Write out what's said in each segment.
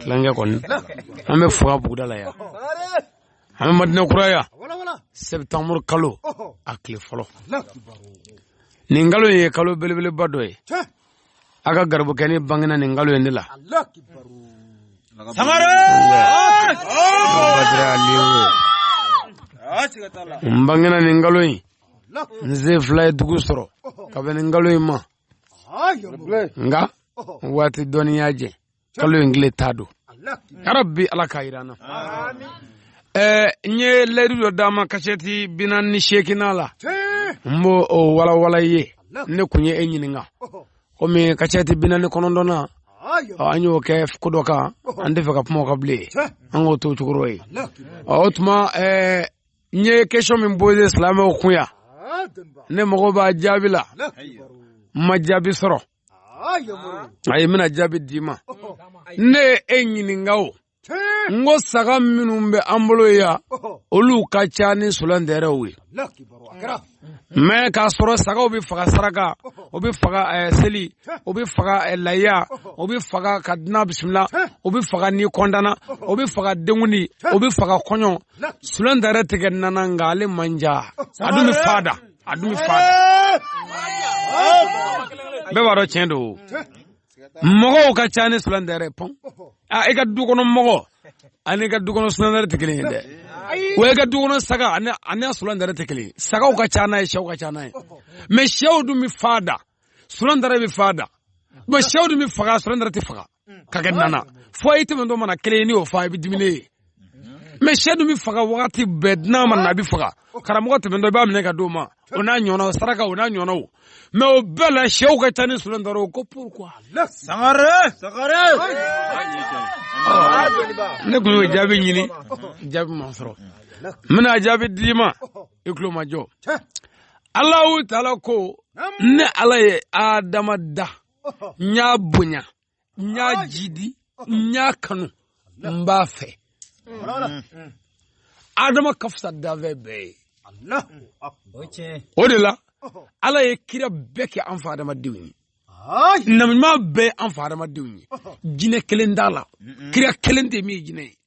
tilankɛ kɔni an bɛ fura buguda la yan an bɛ madina kura yan septembre kalo a tile fɔlɔ nin kalo ye kalo belebeleba dɔ ye a ka garibukɛnin bangena nin kalo in de la n bangena nin kalo in n sen fila ye dugu sɔrɔ ka bɛn nin kalo in ma nka waati dɔɔnin y'a jɛ kalo in tile tan don yarabi ala k'a jira an na n ye layidu dɔ d'a ma kasɛti bi naani ni seeginnan na n b'o walawala i ye ne kun ye e ɲininka komi kasɛti bi naani ni kɔnɔntɔn na an y'o kɛ ko dɔ kan an t'a fɛ ka kuma o kan bilen an k'o to o cogo rɔ o tuma n ye question min poser silamɛw kun yan ne mago b'a jaabi la n ma jaabi sɔrɔ ayi n bɛna jaabi d'i ma ne ye e ɲininka o n ko saga minnu bɛ an bolo yan olu ka ca ni sulantɛrɛw ye mɛ k'a sɔrɔ sagaw bɛ faga saraka o bɛ faga eh, seli o bɛ faga eh, layiya o bɛ faga ka dunan bisimila o bɛ faga n'i kɔntanna o bɛ faga denkundi o bɛ faga kɔɲɔ sulantɛrɛ tɛ kɛ na na nka ale man ca a dun bɛ fan da a dun bɛ fan da bɛɛ b'a dɔn tiɲɛ don mɔgɔw ka ca ni sulantɛrɛ bon a i ka du kɔnɔ mɔgɔ ani i ka du kɔnɔ sulantɛrɛ tɛ kelen ye dɛ wa i ka du kɔnɔ saga ani ani sulantɛrɛ tɛ kelen ye sagaw ka ca n'a ye sɛw ka ca n'a ye mɛ sɛw dun bɛ fan da sulantɛrɛ bɛ fan da mɛ sɛw dun bɛ faga sulantɛrɛ tɛ faga k'a kɛ na na fo i tɛmɛtɔ mana kelen ye n'i y'o fa i bɛ dumuni ye mɛ sɛ dun bɛ faga wagati bɛɛ dunan ma na a bɛ faga karamɔgɔ tɛmɛntɔ i b'a minɛ ka di o ma o n'a ɲɔgɔnnaw saraka o n'a ɲɔgɔnnaw mɛ o bɛɛ la sɛw ka ca ni sulantɛrɛw ko pourquoi. sangare sangare. ne tun y'o jaabi ɲini jaabi ma sɔrɔ n bɛna jaabi d'i ma i tulomajɔ alahu taala ko ne ala ye adama da n y'a bonya. n y'a jidi n y'a kanu n b'a fɛ adama ka fisa danfɛn bɛɛ ye o de la ala ye kira bɛɛ kɛ an fa adama denw ye nabiɲuman bɛɛ ye an fa adama denw ye jinɛ kelen t'a la kira kelen tɛ min ye jinɛ ye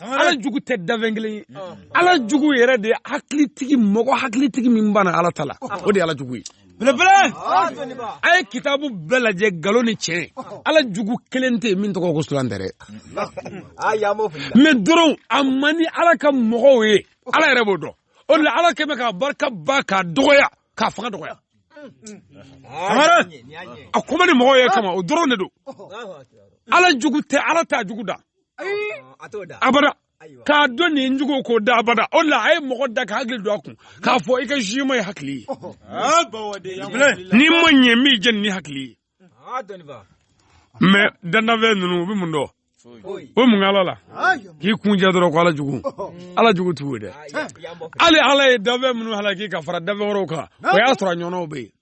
ala jugu tɛ dafɛn kelen ye ala jugu yɛrɛ de hakilitigi mɔgɔ hakilitigi min banna ala ta la o de ala jugu ye belebele a ye kitabu bɛɛ lajɛ nkalon ni tiɲɛ ala jugu kelen tɛ min tɔgɔ ko sulantɛrɛ mɛ dɔrɔn a man di ala ka mɔgɔw ye ala yɛrɛ b'o dɔn o de la ala kɛmɛ k'a barika ban k'a dɔgɔya k'a fanga dɔgɔya a ko man di mɔgɔw ye kama o dɔrɔn de don ala jugu tɛ ala t'a jugu da a t'o da abada k'a dɔn nin jugu k'o da abada o la a ye mɔgɔ da ka hakili don a kun k'a fɔ i ka juma ye hakili ye n'i ma ɲɛ min jɛ ni hakili ye mɛ dan danfɛn ninnu u bɛ mun dɔn o mun ala la k'i kunjɛ dɔrɔn ko ala jugu ala jugu t'u ye dɛ hali ala ye danfɛn minnu halaki ka fara danfɛn wɛrɛw kan o y'a sɔrɔ a ɲɔgɔnw bɛ yen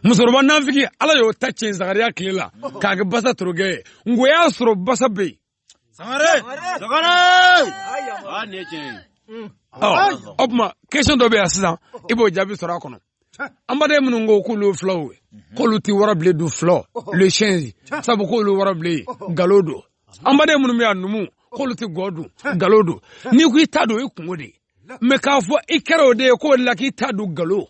musokɔrɔba nafigi ala y'o ta cɛn zagariya tile la k'a kɛ basa torokɛ ye nko y'a sɔrɔ basa bɛ yen o tuma kesɔn dɔ bɛ yan sisan i b'o jaabi sɔrɔ a kɔnɔ an baden minnu ko k'olu fulaw ye mhm. k'olu tɛ warabilen dun fulaw le singe sabu k'olu warabilen ye galo don an baden minnu bɛ yan numu k'olu tɛ gɔ dun galo don n'i ko i t'a dun i kunko de ye mɛ k'a fɔ i kɛra o de ye k'o la k'i t'a dun galo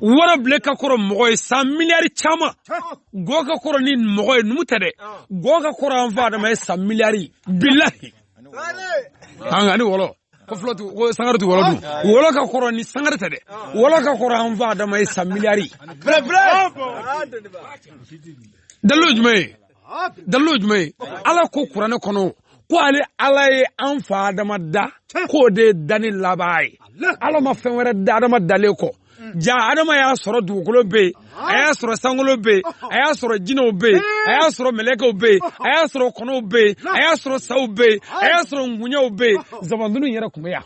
warabilen ka kɔrɔ mɔgɔ ye san miliyari caman gɔ ka kɔrɔ ni mɔgɔ ye numu tɛ dɛ gɔ ka kɔrɔ an fa adama ye san miliyari bilahi an ka ni wɔlɔ ko fɔlɔ tu ko sangare tɛ wɔlɔ dun wɔlɔ ka kɔrɔ ni sangare tɛ dɛ wɔlɔ ka kɔrɔ an fa adama ye san miliyari dalilu jumɛn ye dalilu ye jumɛn ye ala ko kuranɛ kɔnɔ ko ale ala ye an fa adama da k'o de ye danni laban ye ala ma fɛn wɛrɛ da adama dalen kɔ ja adama y'a sɔrɔ dugukolo bɛ yen a y'a sɔrɔ sankolo bɛ yen a y'a sɔrɔ jinɛw bɛ yen a y'a sɔrɔ mɛlɛkɛw bɛ yen a y'a sɔrɔ kɔnɔw bɛ yen a y'a sɔrɔ saw bɛ yen a y'a sɔrɔ ngunyaw bɛ yen zabandunu yɛrɛ tun bɛ yan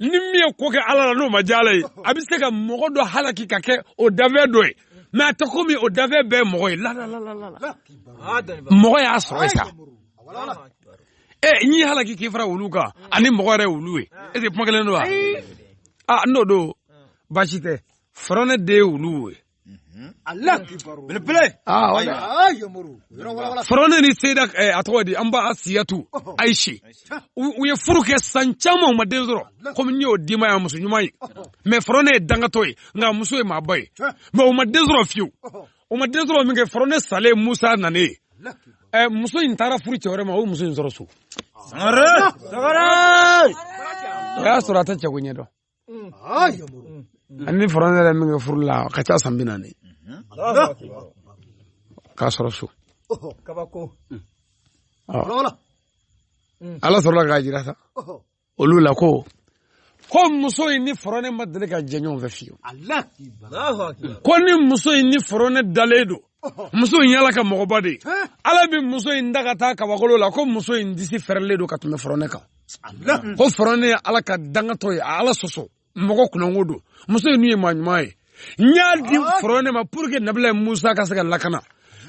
ni min ye ko kɛ ala la n'o ma diya ala ye a bɛ se ka mɔgɔ dɔ halaki ka kɛ o dafɛn dɔ ye mɛ a tɛ komi o dafɛn bɛɛ mɔgɔ ye mɔgɔ y'a sɔrɔ sa ɛ n'i ye halaki k'i fara wulu kan ani mɔgɔ yɛrɛ wulu ye ɛsi kuma kelen don wa aa n'o don baasi tɛ faraunin de ye wulu ye Allah belebele faraunin ni sayida eh, a tawadi an ba asiyatu oh. aishi u ye furu kɛ san caman u ma den sɔrɔ komi n y'o di ma ya muso ɲuman ye mɛ faraunin ye dangatɔ ye nk'a muso ye maaba ye mɛ o ma den sɔrɔ fiyewu o ma den sɔrɔ min kɛ faraunin salen musa nane ye eh, muso in taara furu cɛ wɛrɛ ma o ye muso in sɔrɔ so o y'a sɔrɔ a tɛ cɛko ɲɛdɔn a ni fɔrɔne ye min kɛ furu la a ka ca san bi naani k'a sɔrɔ so ala sɔrɔla k'a jira sa olu la ko ko muso in ni fɔrɔne ma deli ka jɛ ɲɔgɔn fɛ fiyewu ko ni muso in ni fɔrɔne dalen don muso in y'ala ka mɔgɔba de ye ala bɛ muso in ta ka taa kabakolo la ko muso in disi fɛrɛlen don ka tɛmɛ fɔrɔnɛ kan ko fɔrɔnɛ ye ala ka dangatɔ ye a ala sɔsɔ mɔgɔ kunnango don muso in nin ye maa ɲuman ye n y'a di fɔrɔnɛ ma pour que nabila musa ka se ka lakana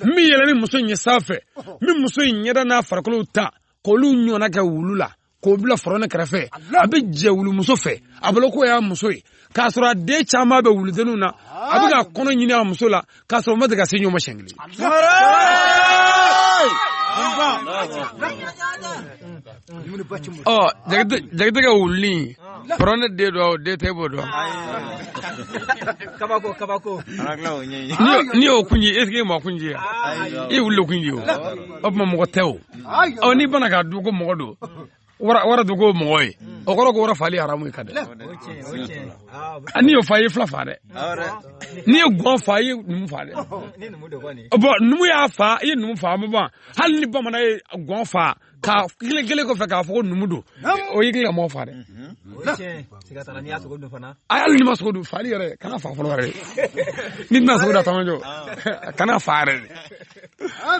n bɛ yɛlɛ ni muso in ye sanfɛ n bɛ muso in ɲɛda n'a farikolo ta k'olu ɲɔgɔnna kɛ wulu la k'o bila fɔrɔne kɛrɛfɛ a bɛ jɛ wulumuso fɛ a bolo k'o y'a muso ye k'a sɔrɔ a den caman bɛ wuludenw na a bɛ ka kɔnɔ ɲini a muso la k'a sɔrɔ u ma deli ka se ɲɔgɔn ma siɲɛ kelen. ɔ jakitɛ ka wulu nin fɔrɔne den dɔ o den tɛ b'o dɔn. kabako kabako. n'i y'o kun ci est ce que i maa kun ci wa i wulu kun ci o o tuma mɔgɔ tɛ o. ɔ n'i bana k'a dun ko mɔgɔ don wara don ko mɔgɔ ye o kɔrɔ ko wara fali haramu ye ka dɛ n'i y'o fa i ye fila fa dɛ n'i ye gɔn fa i ye numu fa dɛ bɔn numu y'a fa i ye numu fa ma ban hali ni bamanan ye gɔn fa ka kile kelen kɔfɛ k'a fɔ ko numu don o y'i ka mɔgɔ fa dɛ a hali n'i ma sogo dun fali yɛrɛ kana fa fɔlɔ yɛrɛ n'i tɛna sogo da tamajɔ kana fa yɛrɛ de ah,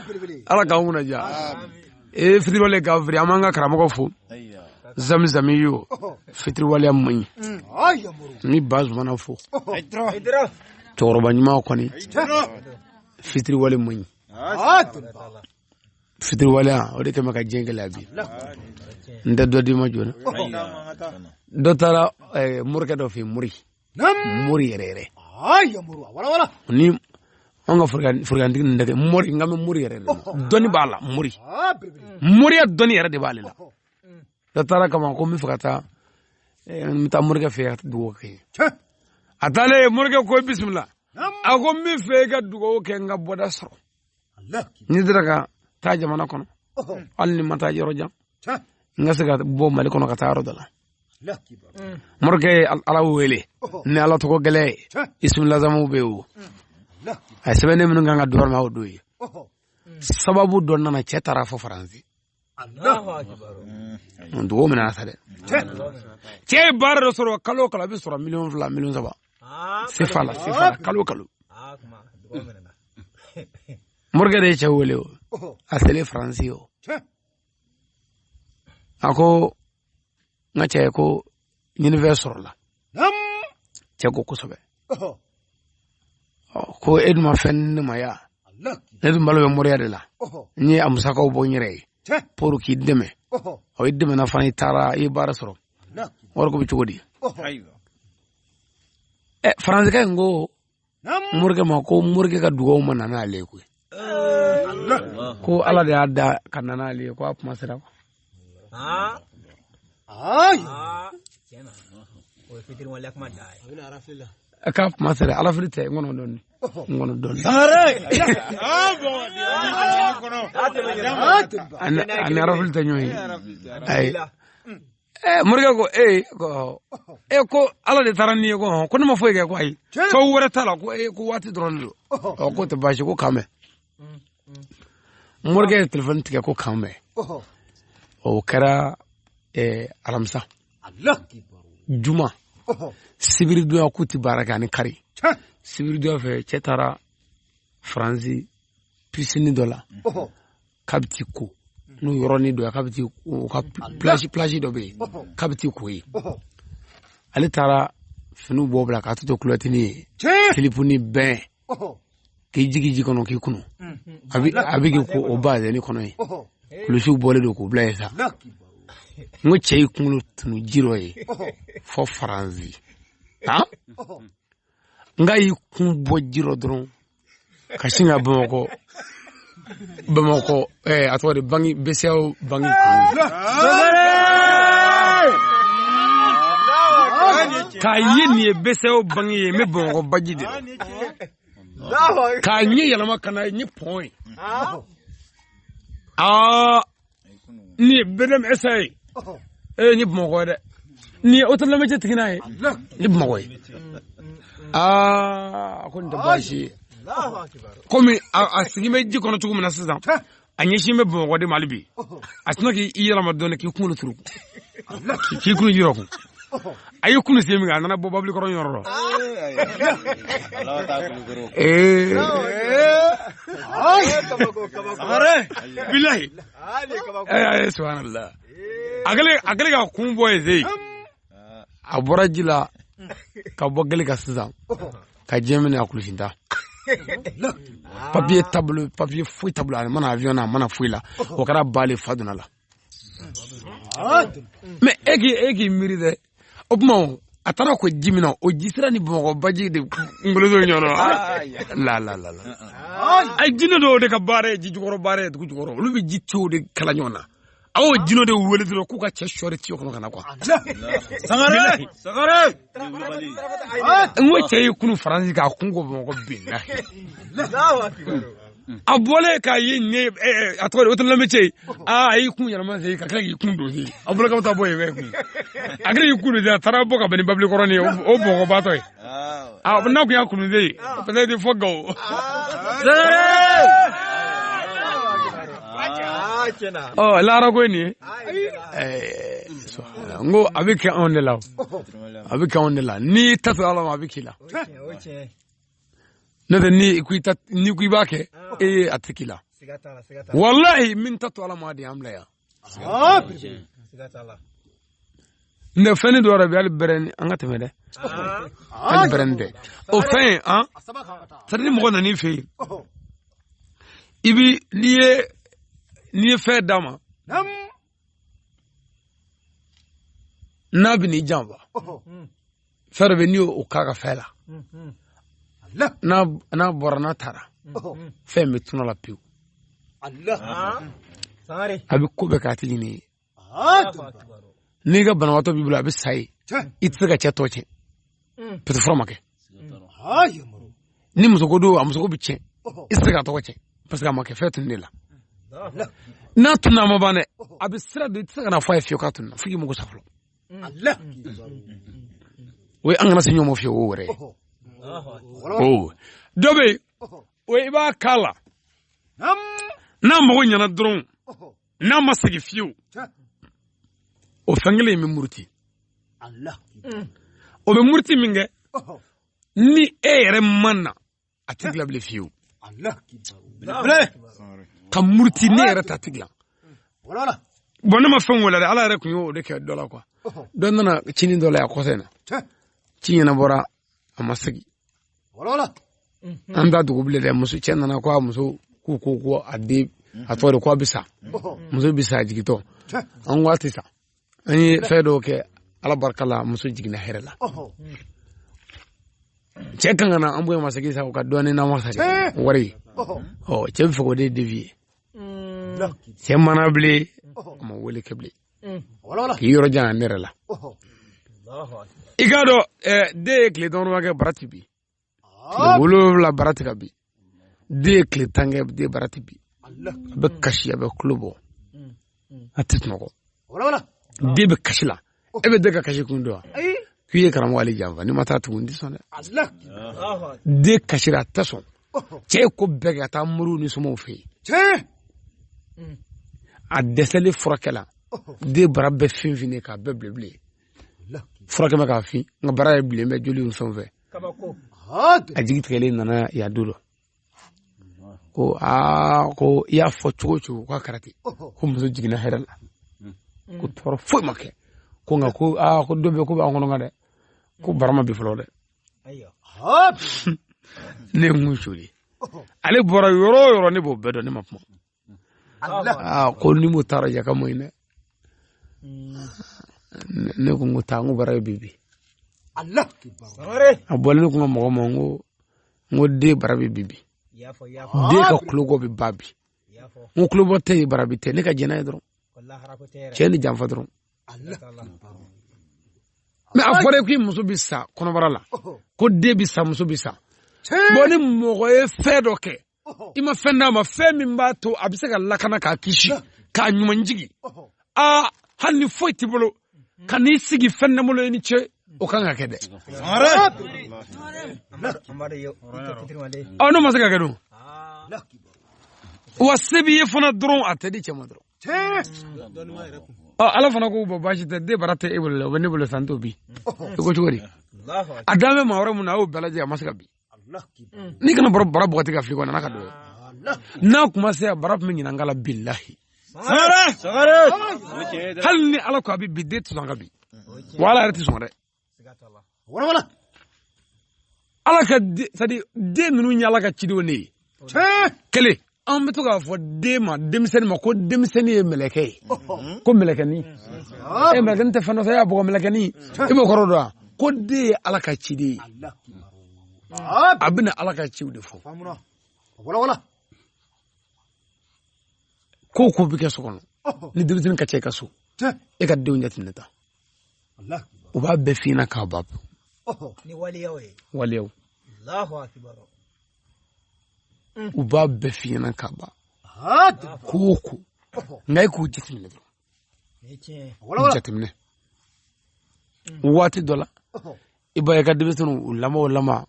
ala k'an kunna diya ee fitiriwale ka firi an b'an ka karamɔgɔ fo zamizami ye o fitiriwaleya man ɲi mm. n bɛ ba zumana fo cɛkɔrɔba ɲuman kɔni fitiriwale man ɲi ah, fitiriwaleya o de kɛlen bɛ ka diɲɛ gɛlɛya bi n tɛ dɔ d'i ma joona dɔ taara eh, morikɛ dɔ fɛ yen mori mori yɛrɛ yɛrɛ ni an ka forokantigi ninnu tɛ mori n kan bɛ mori yɛrɛ de dɔnni b'a la mori moriya dɔnni yɛrɛ de b'ale la dɔ taara kama ko n bɛ fɛ ka taa eh, n bɛ taa morikɛ fɛ ka dugawu kɛ a taalen morikɛ ko bisimila a ko n bɛ fɛ i ka dugawu kɛ n ka bɔda sɔrɔ ni n sera ka taa jamana kɔnɔ hali ni n ma taa yɔrɔ jan n ka se ka bɔ mali kɔnɔ ka taa yɔrɔ dɔ la morikɛ ye ala wele ni ala tɔgɔ gɛlɛn ye isimilazamuw bɛ wo a ye sɛbɛnni minnu kɛ ka d'o ma o don ye sababu dɔ nana cɛ taara fo faransi dugu minɛ sa dɛ cɛ ye baara dɔ sɔrɔ kalo kalo a bɛ sɔrɔ miliyɔn fila miliyɔn saba sefa la sefa la kalo kalo morikɛ de ye cɛ wele o a selen faransi o a ko n ka cɛ ko ɲinifɛn sɔrɔla cɛ ko kosɛbɛ ko e dun ma fɛn ne ma ya ne dun balo bɛ moriya de la n ye a musakaw bɔ n yɛrɛ ye pour k'i dɛmɛ ɔ i dɛmɛna fana i taara i ye baara sɔrɔ wari ko bɛ cogo di ɛ faransikɛ in ko morikɛ ma ko morikɛ ka dugaw ma na n'ale ye koyi ko ala de y'a da ka na n'ale ye ko a kuma sera kuwa k'a kuma sera alafili tɛ n kɔnɔ dɔɔni n kɔnɔ dɔɔni ani alafili tɛ ɲɔgɔn ye ayi ɛɛ morikɛ ko ee ko e ko ala de taara n'i ye ko hɔn ko ne ma foyi kɛ ko ayi ko wɛrɛ t'a la ko ee ko waati dɔrɔn de don ɔ k'o tɛ baasi ko k'an bɛn morikɛ ye telefɔni tigɛ ko k'an bɛn o kɛra ɛɛ alamisa juma sibiri donya k'u tɛ baara kɛ ani kari sibiri donya fɛ cɛ taara faransi pisini dɔ la k'a bɛ t'i ko n'u yɔrɔnin dɔ ye k'a bɛ t'i ko plage plage dɔ bɛ yen k'a bɛ t'i ko yen ale taara finiw bɔ bila k'a tɔ to kulɔtinin ye silipunin bɛn k'i jigi ji kɔnɔ k'i kunu a bɛ a bɛ k'i ko o bazɛni kɔnɔ yen kulusiw bɔlen don k'u bila yen sa n ko cɛ y'i kunkolo tunu ji rɔ yen fo faranzi han nka a y'i kun bɔ ji rɔ dɔrɔn ka sin ka bamakɔ bamakɔ eh, a tɔgɔ de banki BCEAO banki k'a ye nin ye BCEAO banki ye n bɛ bamakɔ baji de k'a ɲɛ yɛlɛma ka na nin ye pɔn ye aa nin BDM SA ye ee nin bamakɔ dɛ nin ye hôtel l'amitié tigi n'a ye nin bamakɔ ye aa ko nin tɛ baasi ye komi a sigi bɛ ji kɔnɔ cogo min na sisan a ɲɛsin bɛ bamakɔ de mali bi a sinna k'i yɛlɛma dɔɔnin k'i kunkolo turu k'i kunu ji rɔ ko a y'i kunu sen min a nana bɔ babilikɔrɔ yɔrɔ la bilayi subhanallah a kɛlen k'a kun bɔ yen se a bɔra ji la ka bɔ gele kan sisan ka diɲɛ minɛ a kulusintan papiye t'a bolo papiye foyi t'a bolo a ma na avion na a ma na foyi la o kɛra ba le fa donn'a la mais e k'i e k'i miiri dɛ o tuma a taara ko ji min na o ji sira ni bamakɔ baji de kunkolo don ɲɔgɔn la a ye jinɛ dɔw de ka baara ye ji jukɔrɔ baara ye dugu jukɔrɔ olu bɛ ji tiyow de kala ɲɔgɔn na aw y'o jinɛ de wele dɔrɔn k'u ka cɛ sɔɔri tiyo kɔnɔ ka na kuwa sangare sangare n ko cɛ y'i kunu faransi k'a kun ko bamakɔ bin na a bɔlen k'a ye ɲɛ a tɔgɔ de otolamɛ cɛ ye aa a y'i kun yɛlɛma sen ka tila k'i kun don sen a bolo ka taa bɔ yen kun a kɛra k'i kun don sen a taara bɔ ka bɛn ni babili kɔrɔ ye o bɔgɔbatɔ ye a n'a kun y'a kun sen ye parce que fɔ gawo. ɔ lahara ko ye nin ye n ko a bɛ kɛ anw de la a bɛ kɛ anw de la n'i t'a to ala ma a bɛ k'i la. ne tɛ ni ko ni ko i b'a kɛ ah. e ye a tɛ k'i la walahi min t'a to ala ma de y'an bila yan ah, ne fɛn ni dɔ yɛrɛ bɛ hali bɛrɛ ni an ka tɛmɛ dɛ ah. hali bɛrɛ ni dɛ o fɛn in an sari ni mɔgɔ nan'i fɛ yen i bi n'i ye n'i ye fɛn d'a ma n'a bɛ n'i janfa fɛɛrɛ bɛ n'i y'o k'a ka fɛn la n'a bɔra n'a taara fɛn bɛ tunun a la pewu a bɛ ko bɛɛ k'a tigi ni ye n'i ka banabagatɔ b'i bolo a bɛ sa ye i tɛ se ka cɛ tɔgɔ tiɲɛ mm. peut-être fura ma kɛ ni musoko don a musoko bɛ tiɲɛ i tɛ se k'a tɔgɔ tiɲɛ parce que a ma kɛ fɛn tunnen la n'a tunna a ma ban dɛ a bɛ sira de i tɛ se ka na fɔ a ye fiyewu k'a tunna fo k'i mago sa fɔlɔ o ye an kana se ɲɔgɔn ma fiyewu o wɛrɛ dɔ bɛ yen o i b'a k'a la n'a mago ɲɛna dɔrɔn n'a ma segin fiyewu o fɛn kelen in bɛ muruti mm. o bɛ muruti min kɛ ni e yɛrɛ ma na a tɛ dilan bilen fiyewu k'a muruti ne yɛrɛ ta tɛ dilan bon ne ma fɛn wele dɛ ala yɛrɛ tun y'o de kɛ dɔ la kuwa dɔ nana cini dɔ la yan kɔsa in na ci ɲɛnabɔra a ma segin an da dugu bilen dɛ muso cɛ nana ko a muso k'u ko ko a den a tɔgɔ de ko a bɛ sa muso bɛ sa jigintɔ an ko a tɛ sa an ye fɛn dɔw kɛ ala barika la muso jiginna hɛrɛ la cɛ kan ka na an bonya a ma segin sa u ka dɔɔnin na wasa wari ɔ cɛ bɛ fɛ k'o de devi ye cɛ ma na bilen a ma wele kɛ bilen k'i yɔrɔ jan ne yɛrɛ la i k'a dɔn den ye tile dɔrɔnba kɛ bara ti bi wolonwula bara ti ka bi den ye tile tan kɛ den bara ti bi a bɛ kasi a bɛ kulo bɔ a tɛ sunɔgɔ den bɛ kasi la e bɛ den ka kasi kun dɔn wa k'i ye karamɔgɔ ale janfa n'i ma taa tugun n tɛ sɔn dɛ den kasira a tɛ sɔn cɛ ye ko bɛɛ kɛ ka taa moriw ni somaw fɛ yen tiɲɛ mm. a dɛsɛlen furakɛla den bara bɛɛ finfin k'a bɛɛ bilenbilen furakɛ bɛ k'a fin nka bara ye bilen bɛ joli fɛn fɛ a jigi tigɛlen nana yan don dɔ ko aa ko i y'a fɔ cogo cogo k'a kɛra ten ko muso jiginna hɛrɛ la mm. ko tɔɔrɔ foyi ma kɛ ko nka ko aa ko dɔ bɛ ko b'an kɔnɔ gan dɛ ko bara ma bi fɔlɔ dɛ ne kun joli ale bɔra yɔrɔ o yɔrɔ ne b'o bɛɛ dɔn ne ma kuma aa ko ni mo taara jaka mo ine ne ko n ko taa n ko bara bi bi Allah a bɔlen ne ko n ka mɔgɔ ma n ko n ko den bara bi bi den ka kulobɔ bɛ ba bi n ko kulobɔ tɛ ye bara bi tɛ ne ka jɛnɛ ye dɔrɔn cɛ ni janfa dɔrɔn mais a fɔra ko i muso bɛ sa kɔnɔbara la ko den bɛ sa muso bɛ sa bon ni mɔgɔ ye fɛn dɔ kɛ i ma fɛn d'a ma fɛn min b'a to a bɛ se ka lakana k'a kisi k'a ɲuman jigin aa hali ni foyi t'i bolo ka n'i sigi fɛn t'an bolo i ni ce o kan ka kɛ dɛ ɔ n'o ma se ka kɛ dun wa se b'i ye fana dɔrɔn a tɛ di cɛ ma dɔrɔn ɔ ala fana ko bon baasi tɛ den bara tɛ e bolo la o bɛ ne bolo sa n t'o bi i ko cogo di a dan bɛ maa wɛrɛ mun na a y'o bɛɛ lajɛ a ma se ka bi n'i kana bara bɔgɔti ka fili kɔnɔ n'a ka don n'a kuma se a bara tun bɛ ɲinan kala bilahi hali ni ala ko a bɛ bi den tɛ sɔn ka bi wa ala yɛrɛ tɛ sɔn dɛ walawala ala ka c'est-à-dire den ninnu ye ala ka cidenw de ye kelen an bɛ to k'a fɔ den ma denmisɛnnin ma ko denmisɛnnin ye mɛlɛkɛ ye ko mɛlɛkɛnin e mɛlɛkɛnin tɛ fɛn dɔ fɛ y'a bɔgɔ mɛlɛkɛnin e b'o kɔrɔ dɔn wa ko den ye ala ka ciden ye a bɛna ala ka ciw de fɔ ko ko bɛ kɛ so kɔnɔ ni denmisɛnnin ka ca i ka so e ka denw jateminɛ ta u b'a bɛɛ f'i ɲɛna k'a ban waleyaw u b'a bɛɛ f'i ɲɛna k'a ban ko o ko nka e k'u jateminɛ dɔrɔn jateminɛ waati dɔ la i b'a ye i ka denmisɛnninw u lamɛn u lamɛn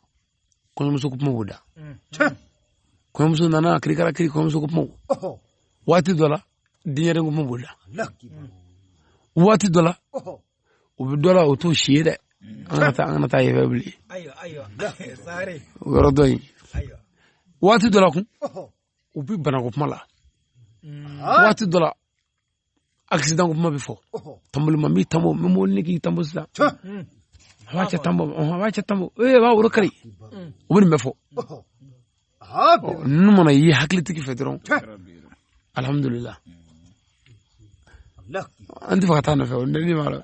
kɔɲɔmuso ko kuma b'u da kɔɲɔmuso nana kirikara kiri kɔɲɔmuso ko kuma waati dɔ la denyɛrɛnin ko kuma b'u da waati dɔ la u bɛ dɔ la o t'o si ye dɛ an ka taa an kana taa yɛrɛ bilen o yɔrɔ dɔ in waati dɔ la kun u bɛ banako kuma la waati dɔ la accident ko kuma bɛ fɔ tanbolima n b'i tanbo n bɛ mobili ne k'i tanbo sisan a b'a cɛ tanbo a b'a cɛ tanbo ee a b'a woro kari u bɛ nin bɛɛ fɔ ninnu mana ye hakilitigi fɛ dɔrɔn alihamudulila an t'a fɛ ka taa nɔfɛ o ne ni b'a la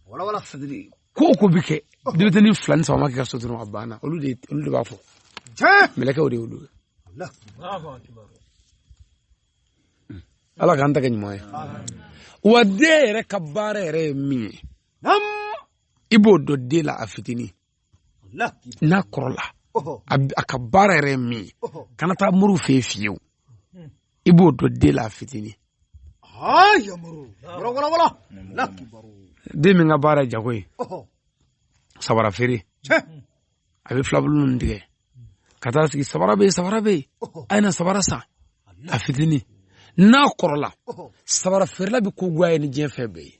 wala wala sadiri ko o ko bɛ kɛ denmisɛnnin fila ni saba ma kɛ ka so dɔrɔn a banna olu de olu de b'a fɔ mɛlɛkɛw de y'olu ye ala k'an ta kɛ ɲuman ye wa den yɛrɛ ka baara yɛrɛ ye min ye i b'o dɔn den la a fitinin n'a kɔrɔla a ka baara yɛrɛ ye min ye kana taa moriw fɛ yen fiyewu i b'o dɔn den la a fitinin den min ka baara ye jago ye sabara feere a bɛ filabulu ninnu tigɛ ka taa sigi sabara bɛ yen sabara bɛ yen a ye na sabara san a fitinin n'a kɔrɔla sabara feerela bɛ ko goy'a ye ni diɲɛ fɛn bɛɛ ye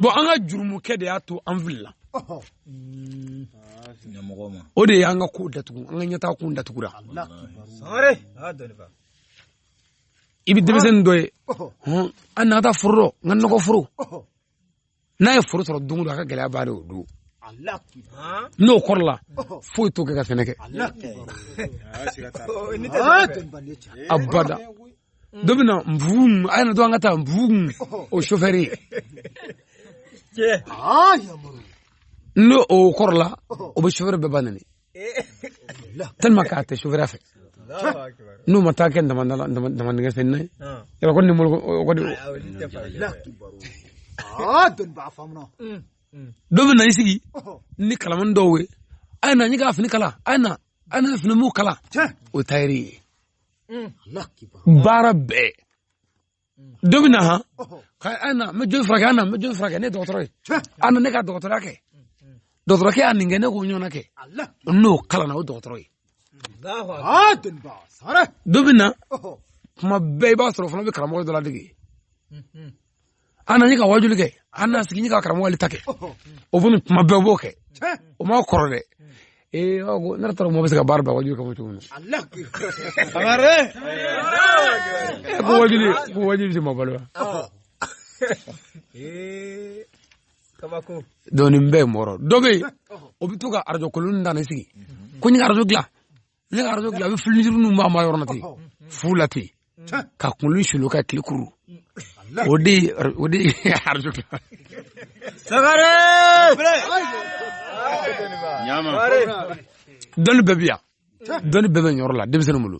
bɔn an ka jurumukɛ de y'a to an filila mm. o de y'an ka ko datugu an ka ɲɛtaa kun datugura i bɛ denmisɛnnin dɔ ye a na an ka taa foro dɔ n ka nɔgɔ foro n'a ye foro sɔrɔ don o don a ka gɛlɛya b'a don o don n'o kɔrɔla foyi t'o kɛ ka sɛnɛ kɛ abada dɔ bɛ na nfugu mun a ye na to an ka taa nfugu mun o sofɛri ye n'o o kɔrɔla o bɛ sofɛri bɛɛ ba nɛni tellement k'a tɛ sofɛriya fɛ n'o ma taa kɛ damandingɛ fɛ n'a ye yɔrɔ ko nimoro ko de dɔ bɛ na i sigi ni kalamani dɔw ye a ye na ne ka fini kala a ye na a ye fini mugu kala o tayɛri ye baara bɛɛ dɔ bɛ na han k'a na n bɛ joli furakɛ a na n bɛ joli furakɛ ne ye dɔgɔtɔrɔ ye a na ne ka dɔgɔtɔrɔya kɛ dɔgɔtɔrɔkɛ y'a nin kɛ ne k'o ɲɔgɔnna kɛ n'o kalanna o dɔgɔtɔrɔ ye dɔ bɛ na tuma bɛɛ i b'a sɔrɔ fana bɛ karamɔgɔ dɔ ladege a na ne ka wajuli kɛ a na sigi ne ka karamɔgɔ ta kɛ o fana tuma bɛɛ b'o kɛ o ma kɔrɔ dɛ ee aw ko ne taara mɔgɔ bɛ se ka baara bila wajuli kama cogo min na amare ko wajuli ko wajuli tɛ mɔgɔ balo wa kabako donc nin bɛɛ ye mɔgɔ dɔ bɛ yen o bɛ to ka arajo kolon dan ne sigi ko n ye arajo dilan ne ka arajo dilan a bɛ filijuru ninnu b'a maga ɲɔgɔn na ten fu la ten ka kunkolo sulu ka tile kuru o de o de arajo sagare dɔnni bɛɛ bi yan dɔnni bɛɛ bɛ nin yɔrɔ la denmisɛnnin bolo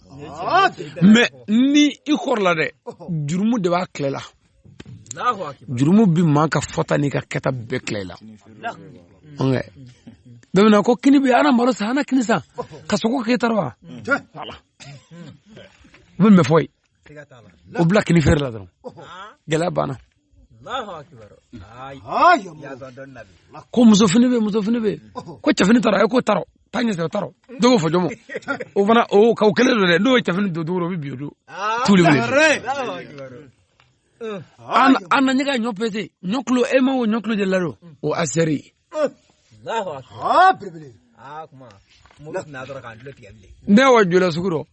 mais ni i kɔrɔla dɛ jurumu de b'a tila i la jurumu bɛ maa ka fɔta n'i ka kɛta bɛɛ tila i la bɛmina ko kini bɛ a na maro san a na kini san ka sogo k'e ta rɔ wa u bɛ mɛ fɔ ye o bila kini feere la dɔrɔn gɛlɛya banna ko musofini bɛ musofini bɛ ko cɛfini t'a rɔ ayi k'o t'a rɔ taa ɲɛ sɔrɔ t'a rɔ dɔw b'o fɔ jɔnmɔ o fana o ka o kelen don dɛ n'o ye cɛfini don don o bɛ bi o don tuuli wele an an na ɲɛ ka ɲɔ pese ɲɔ kilo e ma o ɲɔ kilo de ladon o asɛri ne wa jula sugu dɔ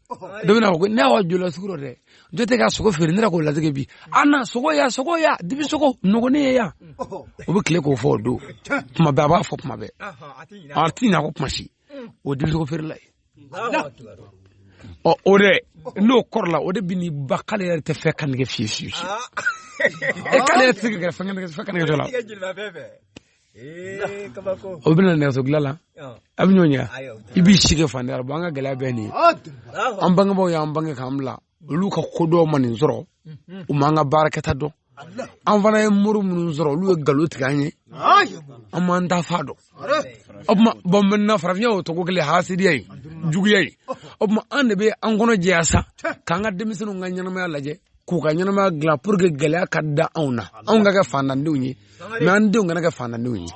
dɔ bɛna fɔ ko ne wa jula sugu dɔ dɛ dɔ tɛ ka sogo feere ne yɛrɛ k'o ladege bi a na sogo ya sogo ya dibi sogo nɔgɔnin ye yan o bɛ tile k'o fɔ o don tuma bɛɛ a b'a fɔ tuma bɛɛ a ti ɲinɛ a kɔ kuma si o dibi sogo feerela ye ɔ o de n'o kɔrɔla o de bɛ ni ba k'ale yɛrɛ tɛ fɛn ka nege fiye fiye fiye e k'ale yɛrɛ tɛ se ka gɛrɛ fɛn ka nege fɛn ka nege dɔ la o bɛna nɛgɛso dilan la a bɛ ɲɔgɔn ɲɛ i b'i si kɛ fantanya la an ka gɛlɛya bɛɛ nin ye an bangebaaw y'an bange k'an bila olu ka kodɔn ma nin sɔrɔ u m'an ka baarakɛta dɔn an fana ye mori minnu sɔrɔ olu ye nkalon tigɛ an ye an m'an taafan dɔn o tuma bon maintenant farafinya o cogo kelen hasidiya ye juguya ye o tuma an de bɛ an kɔnɔ jɛya sa k'an ka denmisɛnninw ka ɲɛnamaya lajɛ k'u ka ɲɛnamaya dilan pour que gɛlɛya ka dan anw na anw ka kɛ fantandenw ye mais an denw kana kɛ fantandenw ye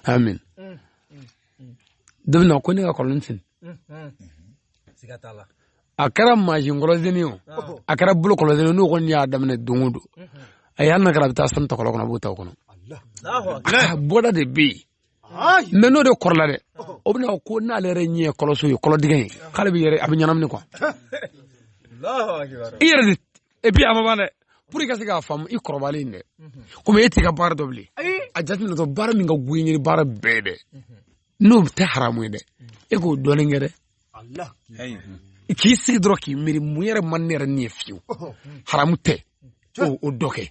amin dɔ bɛ na ko ne ka kɔlɔn sen a kɛra mansin kɔlɔnsenni o a kɛra bolo kɔlɔnsenni n'o kɔni y'a daminɛ don o don a y'a na kɛra a bɛ taa sanu ta kɔlɔn kɔnɔ a b'o ta o kɔnɔ bɔda de bɛ yen mais n'o de kɔrɔla dɛ o bɛna ko n'ale yɛrɛ ɲɛ ye kɔlɔnso ye kɔlɔndingɛ ye k'ale bɛ yɛrɛ a bɛ ɲɛnamini quoi i yɛrɛ de et puis a ma ban dɛ pour i ka se k'a faamu i kɔrɔbalen dɛ komi e t'i ka baara dɔn bilen a jateminɛ dɔrɔn baara min ka go i ye ni baara bɛɛ dɛ n'o tɛ haramu ye dɛ e k'o dɔɔnin kɛ dɛ k'i sigi dɔrɔn k'i miiri mun yɛrɛ man ne yɛrɛ ni ye fiyewu haramu tɛ o dɔ kɛ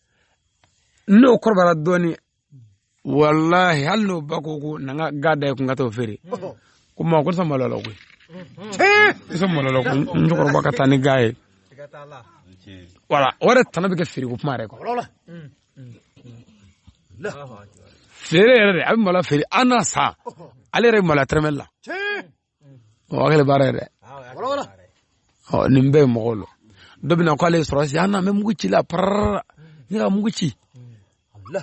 n'o kɔrɔbayara dɔɔnin walahi hali n'o ba ko ko na n ka ga da ye ko n ka t'o feere ko maa ko ne sɔn malo la koyi ne sɔn malo la ko n cɛkɔrɔba ka taa ni ga ye wala o yɛrɛ tana bɛ kɛ feere ko kuma yɛrɛ kɔ feere yɛrɛ de a bɛ malo feere an na san ale yɛrɛ bɛ malo tɛrɛmɛli la o hakili baara yɛrɛ ɔ nin bɛɛ ye mɔgɔw lɔ dɔ bɛna k'ale ye sɔrɔdasi an na an bɛ mugu ci la pararara ne ka mugu ci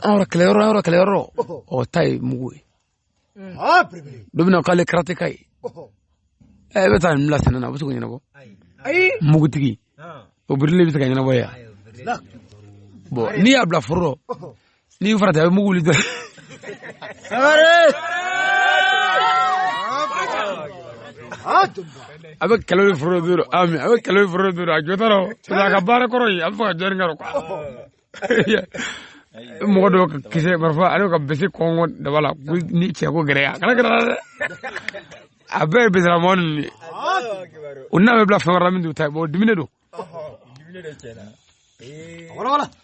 an yɔrɔ kɛlɛ yɔrɔ an yɔrɔ kɛlɛ yɔrɔ ɔ ta ye mugu ye dɔ bɛna k'ale karateka ye ɛ e bɛ taa nin bila sɛnɛ na a bɛ se k'o ɲɛnabɔ mugutigi o birili bɛ se ka ɲɛnabɔ yan bɔn n'i y'a bila foro n'i farati a bɛ mugu wuli dɔrɔn a bɛ kɛlɛ ni foro bi a bɛ kɛlɛ ni foro bi a jɔtɔ a ka baara kɔrɔ ye a bɛ fɔ ka jɔni kɔrɔ mɔgɔ dɔw ka kisɛ marifa ale ka bese kɔngɔ daba la ni cɛ ko gɛrɛ a kana gɛrɛ dɛ a bɛɛ ye besera mɔgɔ ninnu de o n'a bɛ bila fɛn wɛrɛ min t'u ta ye bɔn dumuni don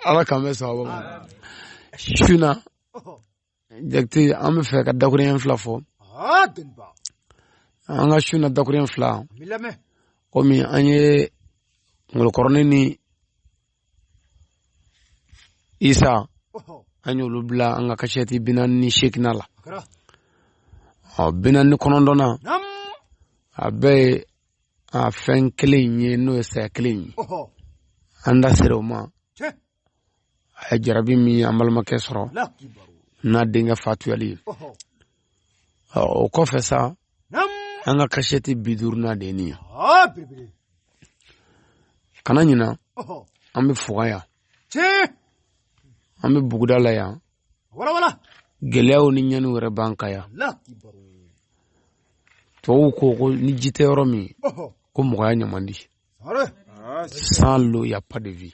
ala k'an bɛ sababu ma su na jakite an b'a fɛ ka dakurunɲɛ fila fɔ an ka su na dakurunɲɛ fila komi an ye ngolo kɔrɔnin ni isa an y'olu bila an ka kasɛti bi naani ni seegina la ɔ bi naani ni kɔnɔntɔn na a bɛɛ ye a fɛn kelen in ye n'o ye saya kelen in ye an da sera o ma a ye jarabi min an balimakɛ sɔrɔ n'a denkɛ fatuyali ye o kɔfɛ sa an ka kasɛti bi duurunan de ye nin ye kana ɲina an bɛ fuga yan an bɛ buguda la yan gɛlɛyaw ni ɲɛni wɛrɛ b'an ka yan tubabuw ko ko ni ji tɛ yɔrɔ min ko mɔgɔya ɲɛ man di ah, sans l'eau y a pas de vie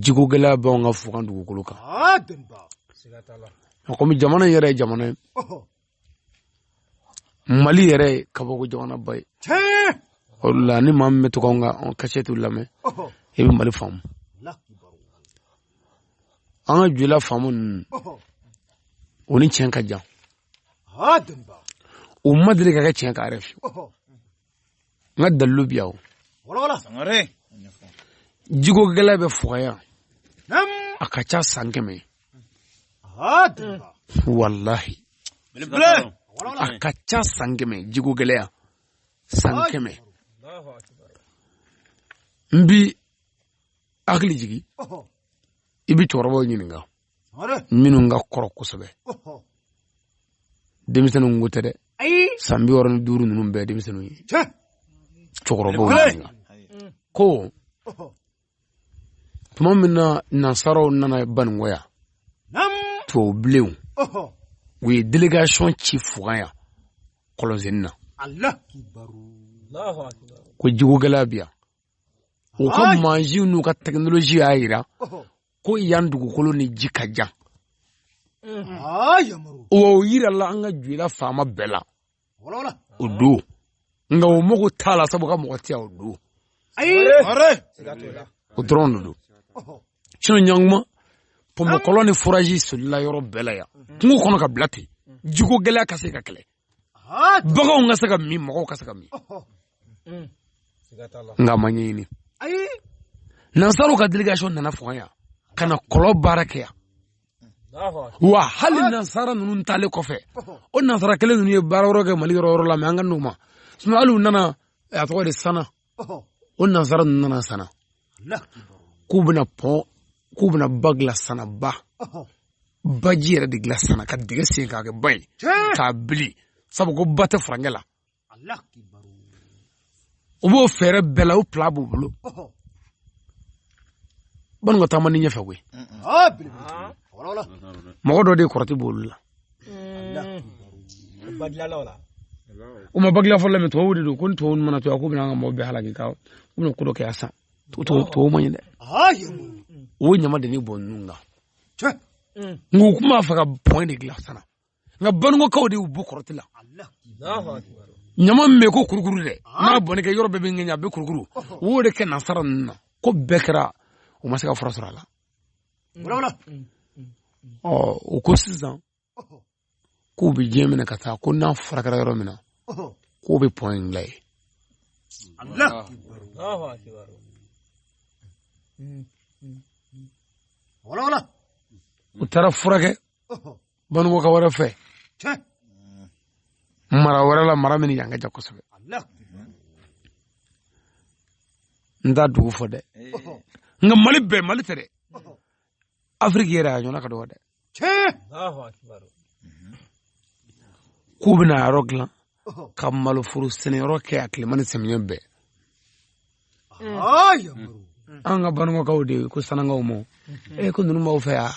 jiko gɛlɛya bɛ anw ka fuga dugukolo kan ah, komi jamana yɛrɛ ye jamana ye mali yɛrɛ ye kabako jamana ba ye o la ni maa min bɛ to k'an ka kasɛtiw lamɛn i bɛ mali faamu an ka jula faama ninnu u ni tiɲɛ ka jan u ma deli ka kɛ tiɲɛ kan yɛrɛ fiyewu nka dalilu bi aw jiko gɛlɛya bɛ fuga yan a ka ca san kɛmɛ walahi a ka ca san kɛmɛ jiko gɛlɛya san kɛmɛ n b'i hakili jigi i bi cɛkɔrɔbaw ɲininka minnu ka kɔrɔ kosɛbɛ denmisɛnninw ko tɛ dɛ san bi wɔɔrɔ ni duuru ninnu bɛɛ denmisɛnninw ye cɛkɔrɔbaw ɲininka ko tuma min na nansaraw nana baninkɔ yan tubabu bilenw u ye delegation ci fuga yan kɔlɔnsenni na ko jiko gɛlɛya bi yan u ka mansinw n'u ka tekinoloji y'a jira ko yan dugukolo ni ji ka jan o yirala an ka joyila faama bɛɛ la o don nka o mago t'a la sabu u ka mɔgɔ tɛ yan o don o dɔrɔn de don sinɔn ɲankuma pɔnpekɔlɔn ni forazi solila yɔrɔ bɛɛ la yan kungo kɔnɔ ka bila ten jiko gɛlɛya ka se ka kɛlɛ baganw ka se ka min mɔgɔw ka se ka min mm. nka u m'a ɲini nansaraw ka delegation nana fuga yan ka na kɔlɔn baara kɛ yan wa hali nansara ninnu taalen kɔfɛ o nansara kelen ninnu ye baara wɛrɛ kɛ mali yɔrɔ yɔrɔ la mɛ an ka n'o ma sinɔn hali u nana a tɔgɔ de sana o nansara ninnu nana sana k'u bɛna pɔn k'u bɛna ba dilan sana ba baji yɛrɛ de dilan sana ka dingɛ sen k'a kɛ ba ye k'a bili sabu ko ba tɛ farajɛ la u b'o fɛɛrɛ bɛɛ la o pilan b'u bolo baninkɔ taa man di ɲɛfɛ koyi mɔgɔ dɔ de kɔrɔti b'olu la o ma ba dilan fɔlɔ min tubabu de don ko ni tubabu mana to yan ko bɛna an ka mɔgɔ bɛɛ halaki ka u bɛna ko dɔ kɛ yan san tubabu man ɲi dɛ o ɲama de ne bon ninnu kan n ko u tun b'a fɛ ka pɔn de dilan sana nka baninkɔkaw de y'u bon kɔrɔti la ɲama min bɛ ko kurukuru dɛ n'a bonni kɛ yɔrɔ bɛɛ bɛ ŋɛɲɛ a bɛ kurukuru o de kɛ nasara ninnu na ko bɛɛ kɛra u ma se ka fura sɔrɔ a la wala ɔ o ko sisan k'u bɛ diɲɛ minɛ ka taa ko n'a furakɛra yɔrɔ min na k'u bɛ pɔn in la yen u taara furakɛ baninkɔka wɛrɛ fɛ mara wɛrɛ la mara min yan ka jan kosɛbɛ n t'a dugu fɔ dɛ nka mali bɛɛ mali tɛ dɛ afiriki yɛrɛ a ɲɔgɔnna ka dɔgɔ dɛ k'u bɛna yɔrɔ dilan ka maloforo sɛnɛyɔrɔ kɛ a tilema ni samiyɛ bɛɛ an ka baninkɔkaw de ko sanankaw ma e ko ninnu b'aw fɛ yan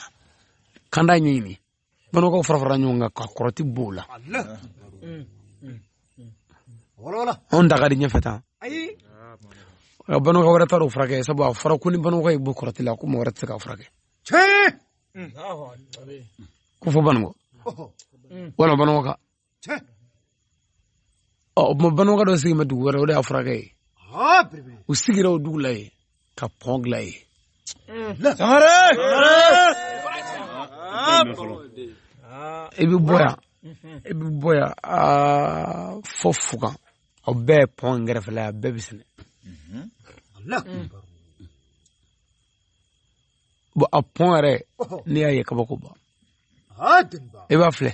kanda ɲɛɲini baninkɔkaw farafara ɲɔgɔn kan ka kɔrɔti b'o la anw da ka di ɲɛfɛ tan ka baninkɔka wɛrɛ taara o furakɛ sabu a fɔra ko ni baninkɔka y'i bon kɔrɔti la ko mɔgɔ wɛrɛ tɛ se k'a furakɛ ko fo baninkɔ walima baninkɔka ɔ o tuma baninkɔka dɔ sigi bɛ dugu wɛrɛ o de y'a furakɛ ye u sigira o dugu la yen ka pɔn dilan yen i bɛ bɔ yan i bɛ bɔ yan fɔ fugan o bɛɛ ye pɔn kɛrɛfɛla ye a bɛɛ bɛ sɛnɛ bɔn a pɔn yɛrɛ n'i y'a ye kabako ban i b'a filɛ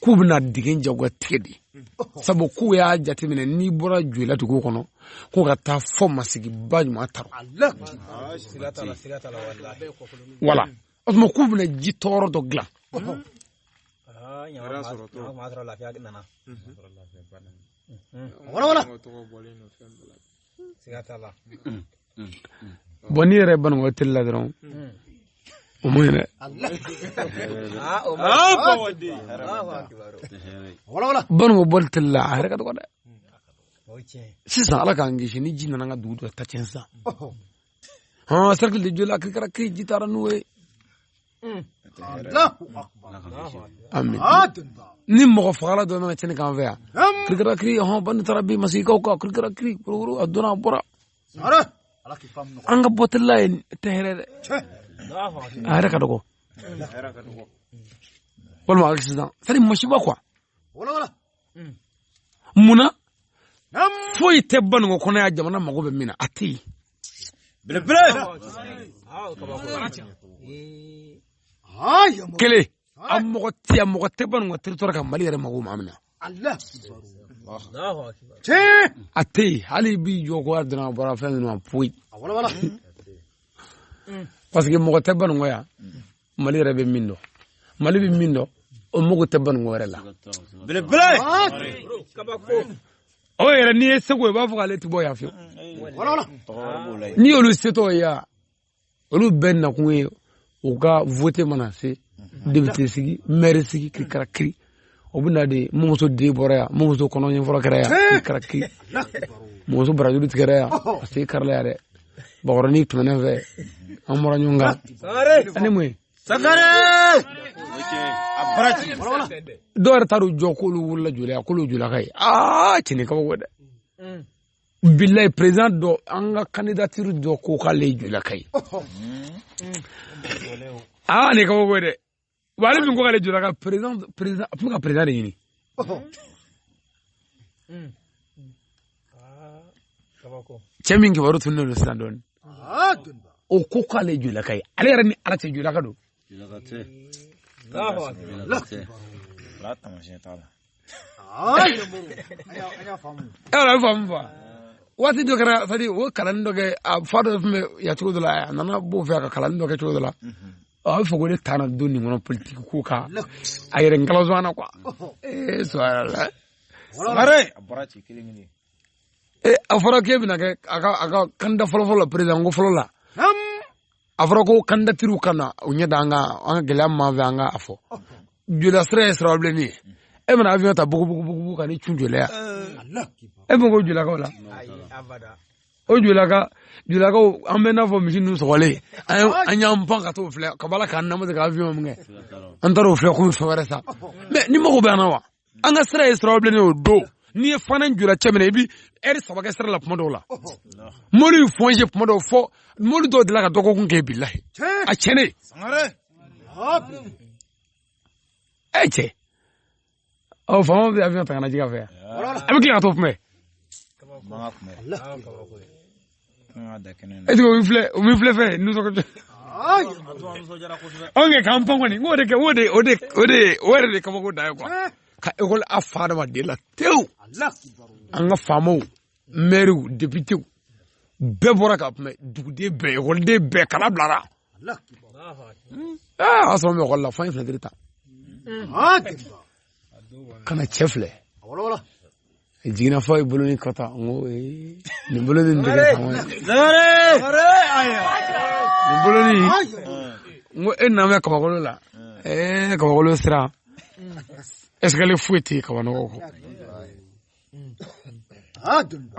k'u bɛna digi jagoya tigɛ de sabu k'u y'a jateminɛ n'i bɔra joyila dugu kɔnɔ k'u ka taa fɔ masigi ba ɲuman ta wala o tuma k'u bɛna ji ton yɔrɔ dɔ dilan siga t'a la bɔn n'i yɛrɛ baninkɔ tele la dɔrɔn o man ɲi dɛ baninkɔ bɔli tele la a yɛrɛ ka dɔgɔ dɛ sisan ala k'an kisi ni ji nana ka dugu dɔ ta tiɲɛ sisan ha cercle de joyila kirikara kiri ji taara n'o ye amin ni mɔgɔ fagala dɔ nana cɛnni k'an fɛ yan kirikira kiri hɔn bandi taara bin masigikaw kan kirikira kiri kurukuru a donna a bɔra an ka bɔ tele la ye tɛ hɛrɛ dɛ a yɛrɛ ka dɔgɔ walima accident c'est-à-dire masiba quoi mm. munna foyi tɛ baninkɔ kɔnɔ yan jamana mago bɛ min na a tɛ yen belebele kelen a mɔgɔ tɛ a mɔgɔ tɛ baninkɔ territoire kan mali yɛrɛ mago maa min na a tɛ yen hali bi jɔ ko a donna bɔra fɛn ninnu ma foyi parce que mɔgɔ tɛ baninkɔ yan mali yɛrɛ bɛ min dɔn mali bɛ min dɔn o mago tɛ baninkɔ wɛrɛ la o yɛrɛ n'i ye segu i b'a fɔ k'ale tɛ bɔ yan fiyewu n'i y'olu setɔ ye yan olu bɛɛ nakun ye u ka vote mana se depite sigi mɛri sigi kirikara kiri o bɛ na de mɔmuso den bɔra yan mɔmuso kɔnɔ ɲɛfɔlɔ kɛra yan a kɛra ki mɔmuso barajuru tigɛra yan a sen karila yan dɛ bakɔrɔnin tɛmɛnen fɛ an bɔra ɲɔgɔn kan ani mun ye sakare dɔw yɛrɛ taar'u jɔ k'olu wolola joyila k'olu joyilaka ye aa cɛ nin kabako dɛ bilayi perezan dɔ an ka kandidatiri dɔ ko k'ale ye joyilaka ye aa nin kabako dɛ wa ale min ko k'ale joyilaka président président a tun bɛ ka président de ɲini cɛ min kibaru tununnen don sisan dɔɔnin o ko k'ale joyilaka ye ale yɛrɛ ni ala cɛ joyilaka don an y'a faamu fa waati dɔ kɛra c'est-à-dire o kalannin dɔ kɛ a fa dɔ tun bɛ yan cogo dɔ la a nana b'o fɛ ka kalannin dɔ kɛ cogo dɔ la mhm. a bɛ fɔ ko ne taara don nin kɔnɔ politiki ko kan a yɛrɛ n kalansɔn na kuwa ee sɔrɔ la sɔrɔ a bɔra ci kelen kelen ee a fɔra k'e bɛna kɛ a ka a ka kandida fɔlɔ fɔlɔ la perezan ko fɔlɔ la a fɔra ko kandidatiriw ka na u ɲɛ da an ka an ka gɛlɛya min b'an fɛ an ka a fɔ joyila sira ye sira bilenni ye e bɛna avion ta bugubugubugu ka n'i cun joyila yan e bɛ ko joyilakaw la o joyilaka joyilakaw an bɛ n'a fɔ misi ninnu sɔgɔlen an y'an pan ka t'o filɛ ka b'a la k'an namase ka avion min kɛ an taara o filɛ k'u fɛn wɛrɛ sa mɛ n'i mago bɛ an na wa an ka sira ye sira bilenni o don n'i ye fana joyila cɛ minɛ i bɛ ɛri saba kɛ sira la tuma dɔw la mobili bɛ fɔnse tuma dɔw fɔ mobili dɔw delila ka dɔgɔkun kɛ bilayi a tiɲɛnen ɛ cɛ ɔ faama bɛ avion ta ka na jigin a fɛ yan a bɛ tila ka t'o kunbɛn ɛseke o bɛ filɛ o bɛ filɛ fɛ nisɔngɔ tɛ. anw kɛ k'an pan kɔni n k'o de kɛ o de o de o de o yɛrɛ de kabako dan ye kuwa eh. ka ekɔli a fa adamaden la tewu an ka faamaw mɛriw depitew bɛɛ bɔra k'a kunbɛn duguden bɛɛ ekɔliden bɛɛ kalan bilara hmm. eh, a y'a sɔrɔ n bɛ ekɔli la fo an ye finɛtiri ta hmm. ka na cɛ filɛ jiginna fɔ ye bolo ni kɔta n ko nin bolo ni nin tɛgɛ sama ye nin bolo ni n ko e nana bɛ kabakolo la ɛɛ eh, kabakolo sira ɛsikali foyi tɛ kabanɔgɔ kɔ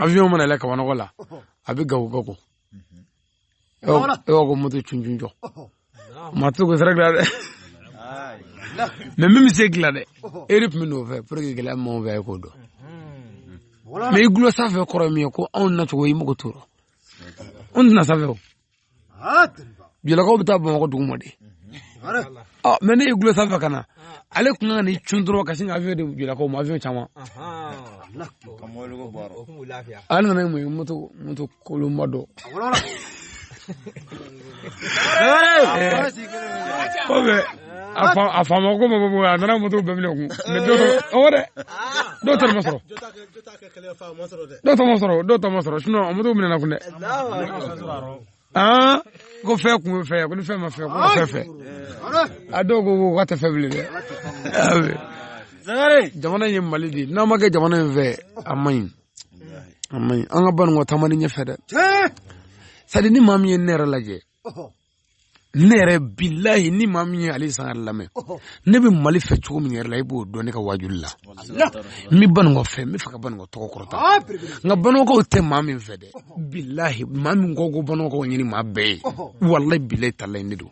avion mana yɛlɛ kabanɔgɔ la a bɛ gawo gawo e b'a ko moto cuncun jɔ maa tɛ ko sira dilan dɛ mɛ min bɛ se dilan dɛ e de tun bɛ n'o fɛ pour que gɛlɛya min b'anw fɛ e k'o dɔn mɛ i gulo sanfɛ kɔrɔ min ye ko anw nacogo i mago t'o rɔ anw tɛna sanfɛ o joyilakaw bɛ taa bamakɔ duguma de ɔ mais ne ye gulo sanfɛ ka na ale tun ka n'i cun dɔrɔn ka sin ka avion di jɔlakaw ma avion caman ale nana mun ye moto moto kolonba dɔ kɔfɛ a faama ko ma bɔ a nana moto bɛɛ minɛ kunun mais dɔ ɔwɔ dɛ dɔw ta ma sɔrɔ dɔw ta ma sɔrɔ dɔw ta ma sɔrɔ sinon moto minɛna kunun dɛ aa ko fɛn kun bɛ fɛ ko ni fɛn ma fɛ ko fɛn fɛ a dɔw ko ko ka tɛ fɛn bilen dɛ jamana ye mali de ye n'an ma kɛ jamana in fɛ a man ɲi a man ɲi an ka baninkɔ taamani ɲɛfɛ dɛ c'est-à-dire ni maa min ye ne yɛrɛ lajɛ ne yɛrɛ bilayi ni maa min ye ali sangare lamɛn ne bɛ mali fɛ cogo min yɛrɛ la i b'o dɔn ne ka wajuli la n bɛ baninkɔ fɛ n bɛ fɛ ka baninkɔ tɔgɔ kɔrɔta ah, nka baninkɔkaw tɛ maa min fɛ dɛ bilahi maa min ko ko baninkɔkaw ɲini maa bɛɛ ye walayi bilayi talayi ne don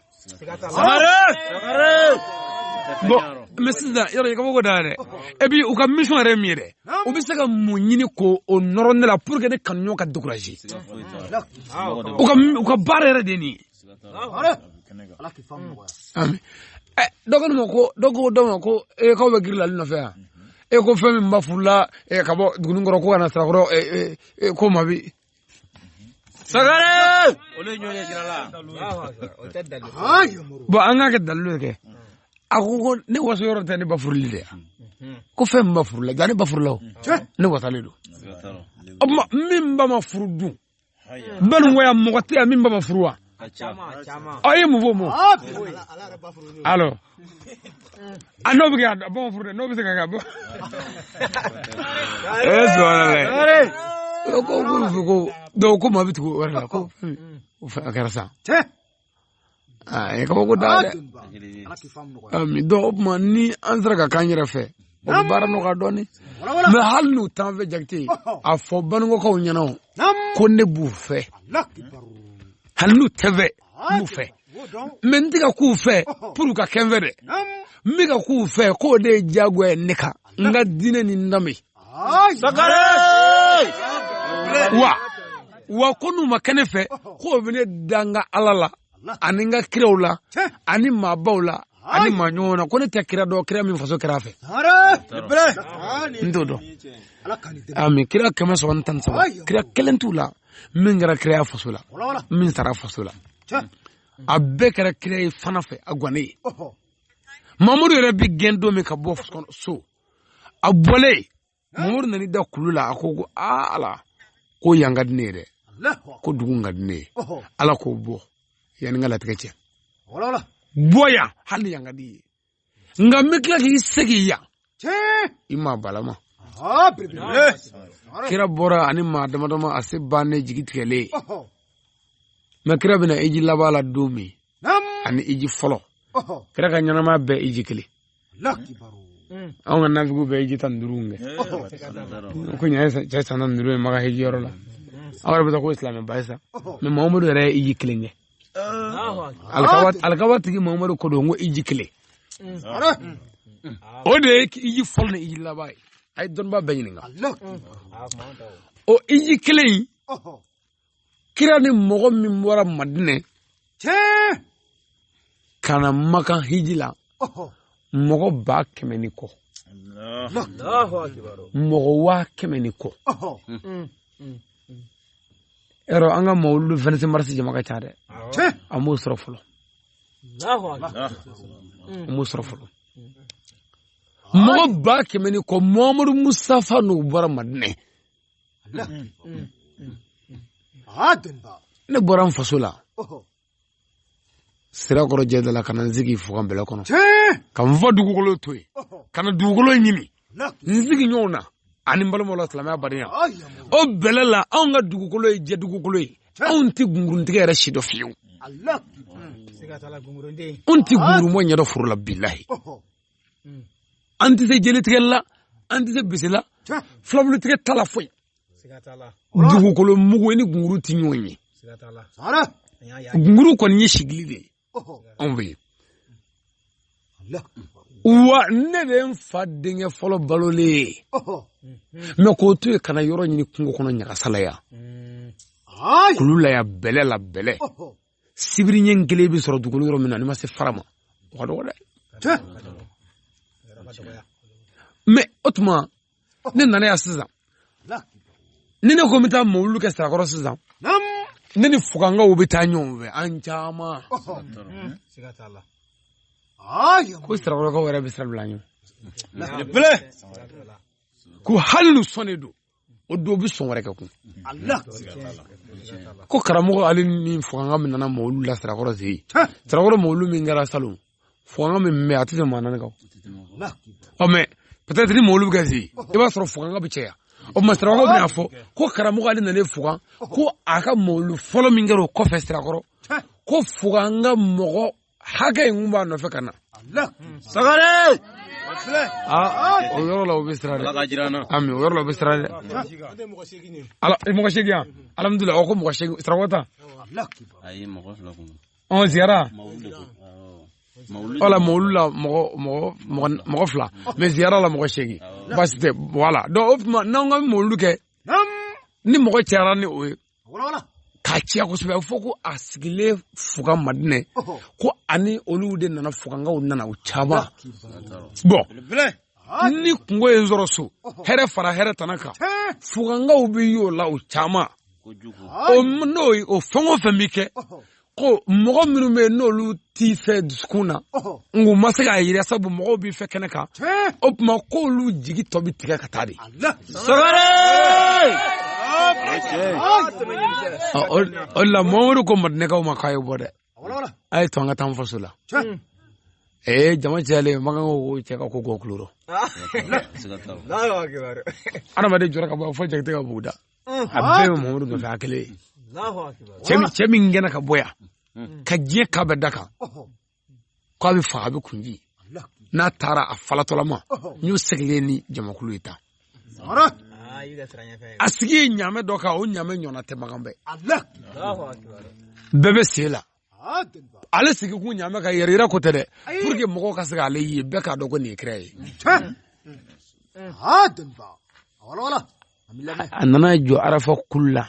bon mais sisan yɔrɔ i kabako da dɛ et puis u ka mission yɛrɛ min ye dɛ u bɛ se ka mun ɲini k'o nɔrɔ ne la pour que ne kanuɲɔgɔn ka décourager u ka baara yɛrɛ de ye nin ye dɔgɔnin ma ko dɔ ko dɔ ma ko e k'aw bɛ girin la ali nɔfɛ yan e ko fɛn min ba furula ka bɔ dugunin kɔrɔ ko ka na sirakɔrɔ ko ma bi sangare olu ye ɲɔgɔn ye sira la bon an k'a kɛ dalilu ye kɛ a ko ko ne waso yɔrɔ tɛ ne ba furuli de yan ko fɛn min ba furula ja ne ba furula o ne wasalen don min ba ma furu dun baninkɔya mɔgɔ tɛ yan min ba ma furu wa aw ye mun fɔ mɔ alors a n'o bɛ kɛ a ba ma furu dɛ n'o bɛ se ka kɛ a bɔ ee sɔɔni dɛ ko ko ko dɔw ko maa bɛ tugu o yɛrɛ la ko a kɛra sa a ye kabako da dɛ donc o tuma ni an sera ka k'an yɛrɛ fɛ o bɛ baara nɔgɔya dɔɔnin mais hali n'u t'an fɛ jakite a fɔ baninkɔkaw ɲɛna ko ne b'u fɛ hali n'u tɛ fɛ n b'u fɛ mais n tɛ ka k'u fɛ pour ka kɛ n fɛ dɛ n bɛ ka k'u fɛ k'o de ye diyagoya ye ne kan n ka diinɛ ni n danbe sangare wa wa ko n'u ma kɛ ne fɛ k'o bɛ ne da n ka ala la ani n ka kiraw la ani maabaw la ani maa ɲɔgɔn na ko ne tɛ kira dɔn kira min faso kɛra a fɛ n t'o dɔn mais kira kɛmɛ saba ni tan ni saba kira kelen t'u la min kɛra kira faso la min sara faso la a bɛɛ kɛra kira ye fana fɛ a gannen ye mamadu yɛrɛ bɛ gɛn don min ka bɔ so a bɔlen mamadu nana i da kulu la a ko ko aa ala ko yan ka di ne ye dɛ ko dugu ka di ne ye ala ko bɔ yan ni n ka latigɛ cɛ bɔ yan hali yan ka d'i ye nka n bɛ tila k'i segin yan i ma balama kira bɔra ani maa damadama a se bannen jigi tigɛlen mɛ kira bɛna hiji laban la don min ani hiji fɔlɔ kira ka ɲɛnamaya bɛɛ hiji kelen anw ka nafigiw bɛ hiji tan ni duuru kɛ ko nin ye cɛ san tan ni duuru ye makan hiji yɔrɔ la aw yɛrɛ bɛ taa ko silamɛba ye sa mɛ mamadu yɛrɛ ye hiji kelen kɛ alikaba tigi mamadu ko don ko hiji kelen o de ye hiji fɔlɔ ni hiji laban ye a ye dɔnniba bɛɛ ɲininka o hiji kelen in kira ni mɔgɔ min bɔra madinɛ ka na makan hiji la mɔgɔ ba kɛmɛ ni kɔ mɔgɔ waa kɛmɛ ni kɔ yɔrɔ an ka mawulu 26 mars jama ka ca dɛ an m'o sɔrɔ fɔlɔ an m'o sɔrɔ fɔlɔ mɔgɔ ba kɛmɛ ni kɔ muhamadu musitafa n'u bɔra madinɛ ne bɔra n faso la sirakɔrɔ jɛ dala ka na n sigi fugan bɛlɛ kɔnɔ ka n faw dugukolo to yen ka na dugukolo ɲini n sigi ɲɔgɔn na ani n balimaw la silamɛya badenya o bɛlɛ la anw ka dugukolo ye jɛ dugukolo ye anw tɛ gunguruntigɛ yɛrɛ sidɔn fiyewu anw tɛ gungurunbɔ ɲɛdɔn foro la bilahi hmm. an tɛ se jeletigɛ la an tɛ se bese la filabulutigɛ t'a la foyi dugukolo mugu ni gunguru tɛ ɲɔgɔn ye gunguru kɔni ye sigili de ye anw fɛ yen wa ne de ye n fa denkɛ fɔlɔ balolen ye mɛ k'o to yen ka na yɔrɔ ɲini kungo kɔnɔ ɲagasa la yan kulu la yan bɛlɛ la bɛlɛ sibiri ɲɛ kelen bɛ sɔrɔ dugukolo yɔrɔ min na n'i ma se fara ma o ka dɔgɔ dɛ mɛ o tuma ne nana yan sisan ni ne ko n bɛ taa mawulu kɛ sirakɔrɔ sisan ne ni fugankaw bɛ taa ɲɔgɔn fɛ an caman ko sirakɔrɔkaw yɛrɛ bɛ sira bila an ɲɛ ko hali n'u sɔnnen don o don bɛ sɔn wɛrɛ kɛ kun ko karamɔgɔ ale ni fuganka min nana mawulu la sirakɔrɔ sen in sirakɔrɔ mawulu min kɛra salon fuganka min bɛ a tɛ tɛmɛ maa naani kan ɔ mɛ peut-être ni mawulu bɛ kɛ sen in i b'a sɔrɔ fuganka bɛ caya o tuma sirakɔrɔ bɛna fɔ ko karamɔgɔ ale nalen fugan ko a ka mawulu fɔlɔ min kɛra o kɔfɛ sirakɔrɔ ko fugan ka mɔgɔ hakɛ in kun b'a nɔfɛ ka na sagare o yɔrɔ la o bɛ siran dɛ ami o yɔrɔ la o bɛ siran dɛ ala mɔgɔ seegin yan alihamudulila o ko mɔgɔ seegin sirakɔrɔ ta ɔn ziyara wala mawulu la mɔgɔ mɔgɔ mɔgɔ fila mais ziyara la mɔgɔ seegin baasi tɛ voilà donc o tuma n'an ka mawulu kɛ ni mɔgɔ cayara ni o ye k'a ciya kosɛbɛ a bɛ fɔ ko a sigilen fuga madinɛ ko ani olu de nana fugankaw nana u caman bon ni kungo ye n sɔrɔ so hɛrɛ fara hɛrɛ tana kan fugankaw bɛ y'o la u caman n'o o fɛn o fɛn bɛ kɛ ko mɔgɔ minnu bɛ yen n'olu t'i fɛ dusukun na nk'u ma se k'a yira sabu mɔgɔw b'i fɛ kɛnɛ kan o tuma k'olu jigi tɔ bɛ tigɛ ka taa de. sɔgɔrɛ. o de la mamadu ko madinɛkaw ma k'a ye bɔ dɛ a ye to an ka taa an faso la. ee eh, jama cayalen makan ko cɛ ka ko k'o kulo rɔ adamaden jɔra ka bɔ fo jakite ka buguda a bɛɛ bɛ mamadu nɔfɛ a kelen cɛ min gɛnna ka bɔ yan ka diɲɛ k'a bɛ da kan k'a bɛ faga a bɛ kunci n'a taara a falatɔlama n y'o seginnen ni jamakulu ye tan a sigi ye ɲaamɛ dɔ kan o ɲaamɛ ɲɔgɔnna tɛ makan bɛɛ bɛɛ bɛ sen la ale sigi kun ɲaamɛ kan yɛrɛ yira ko tɛ dɛ pour que mɔgɔw ka se k'ale ye bɛɛ k'a dɔn ko nin ye kira ye a nana jɔ arafa kulu la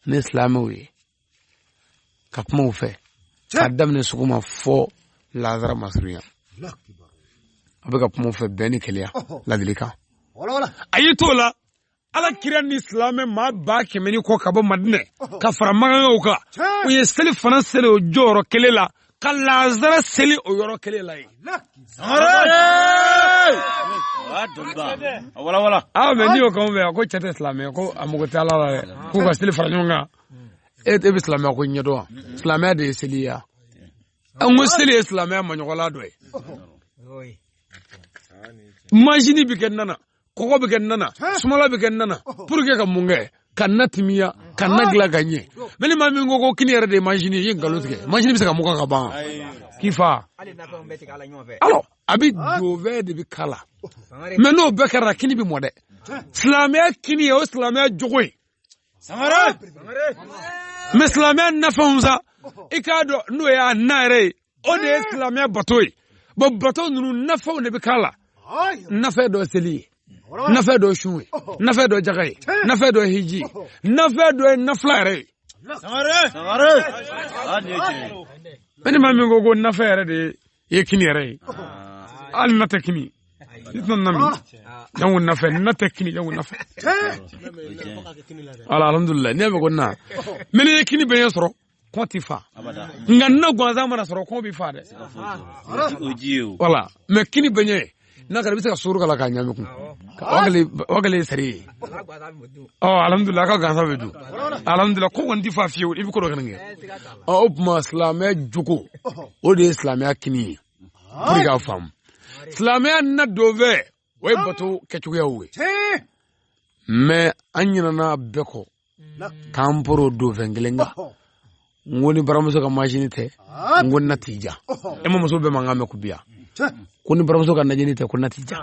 ni silamɛw ye ka kuma u fɛ k'a daminɛ sɔgɔma fo lazara masurunya a bɛ ka kuma u fɛ bɛn ni kelenya ladilikan a y'i t'o la ala kira ni silamɛ maa ba kɛmɛ ni kɔ ka bɔ madinɛ ka fara makankaw kan u ye selifana seli o jɔyɔrɔ kelen la ka lazara seli o yɔrɔ kelen la yen mais n'i y'o k'an fɛ yan ko cɛ tɛ silamɛ ko a mago tɛ ala la dɛ k'u ka seli fara ɲɔgɔn kan e bɛ silamɛya ko ɲɛdɔn wa silamɛya de ye seli ye an ko seli ye silamɛya maɲɔgɔnla dɔ ye manzini bɛ kɛ na na kɔgɔ bɛ kɛ na na sumala bɛ kɛ na na pour que ka mun kɛ ka na timiya ka na dilan ka ɲɛ mais ni maa min ko ko kini yɛrɛ de ye manzini ye i ye nkalon tigɛ manzini bɛ se ka mugan ka ban k'i fa alors a bɛ dɔ wɛrɛ de bɛ k'a la mais n'o bɛɛ kɛra kini bɛ mɔ dɛ silamɛya kini ye o silamɛya jogo ye sangare mɛ silamɛya nafɛnw sa i k'a dɔn n'o y'a na yɛrɛ ye o de ye silamɛya bato ye bɔn bato ninnu nafɛnw de bɛ k'a la nafɛn dɔ seli ye nafɛn dɔ sun ye nafɛn dɔ jaga ye nafɛn dɔ hiji ye nafɛn dɔ ye nafila yɛrɛ ye mɛ ni maa min ko ko nafɛn yɛrɛ de ye i ye kini yɛrɛ ye hali na tɛ kini ne tɛna nami yan ko nafɛn na tɛ kini yan ko nafɛn ala alhamdulilayi ne bɛ ko na mɛ n'i ye kini bɛɛ ɲɛ sɔrɔ kɔnɔ ti fa nka na gansan mana sɔrɔ kɔnɔ bɛ fa dɛ wala mɛ kini bɛɛ ɲɛ n'a kɛra i bɛ se ka sukaro k'a la k'a ɲagami kun o kɛlen ye sari ye ɔ alihamudulila k'a gansan bɛ dun alihamudulila ko kɔnɔ tɛ fa fiyewu i bɛ ko dɔ kɛnɛ kɛ ɔ o tuma silamɛya jogo o de ye silamɛya kini ye pour que k'a faamu silamɛya na donfɛn o ye bato kɛcogoyaw ye mɛ an ɲinɛna bɛɛ kɔ k'an poron donfɛn kelen kan n ko ni baramuso ka majini tɛ n ko na tɛ diya e ma muso bɛɛ mankan mɛn ko biya ko ni baramuso ka najini tɛ ko na tɛ diya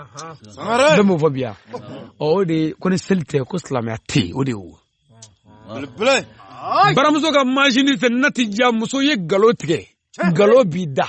bɛɛ m'o fɔ biya o de ko ni seli tɛ ko silamɛya tɛ yen o de y'o baramuso ka majini tɛ na tɛ diya muso ye nkalon tigɛ nkalon b'i da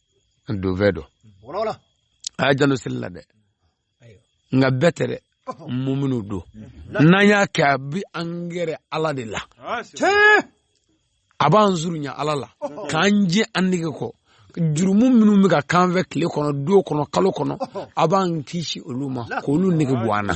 an donfɛn don a y'a janto seli la dɛ nka bɛɛ tɛ dɛ mun minnu don n'an y'a kɛ a bi an gɛrɛ ala de la a b'an surunya ala la k'an jɛ an nege kɔ jurumu minnu bɛ ka k'an fɛ tile kɔnɔ dɔgɔ kɔnɔ kalo kɔnɔ a b'an kisi olu ma k'olu nege bɔ an na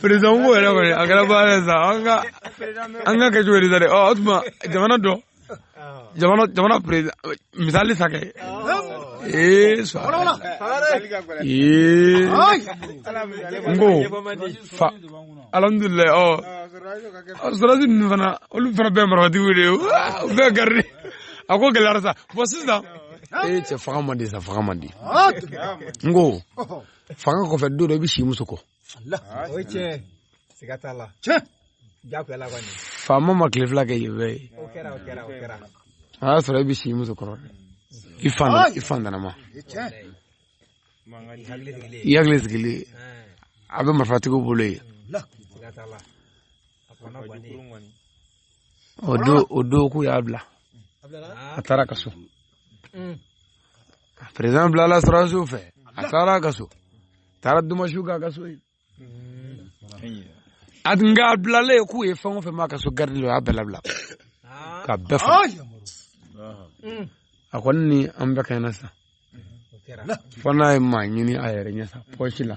peresidan ko yɛrɛ kɔni a kɛra baara ye sa an ka an k'a kɛ cogo di sa dɛ ɔ o tuma jamana dɔ jamana jamana peresidan misali sa kɛ ee sa ee n ko fa alhamdulilayi ɔ sɔrɔdasi ninnu fana olu fana bɛɛ marifatigiw de ye u bɛɛ garidi a ko gɛlɛyara sa bɔn sisan ee cɛ fanga man di sa fanga man di ah, n ko fanga kɔfɛ don dɔ i bɛ si muso kɔ o ye tiɲɛ siga t'a la tiɲɛ jagoya la kɔni faama ma tile fila kɛ yen bɛɛ ye o kɛra o kɛra o kɛra a y'a sɔrɔ i bɛ si muso kɔrɔ i fan ah! i fan dana ma i hakili sigilen a bɛ marifatigiw bolo yen o don k'u y'a bila a taara ka so par exemple la surɔ su fɛ a taara ka so taara dumasiw k'a ka so ye a tun ka bilalen k'u ye fɛn o fɛn ma ka so garidi la o y'a bɛɛ labila ka bɛɛ fa a kɔni ni an bɛɛ kɛɲɛna sa fo n'a ye maa ɲini a yɛrɛ ɲɛ sa pɔsi la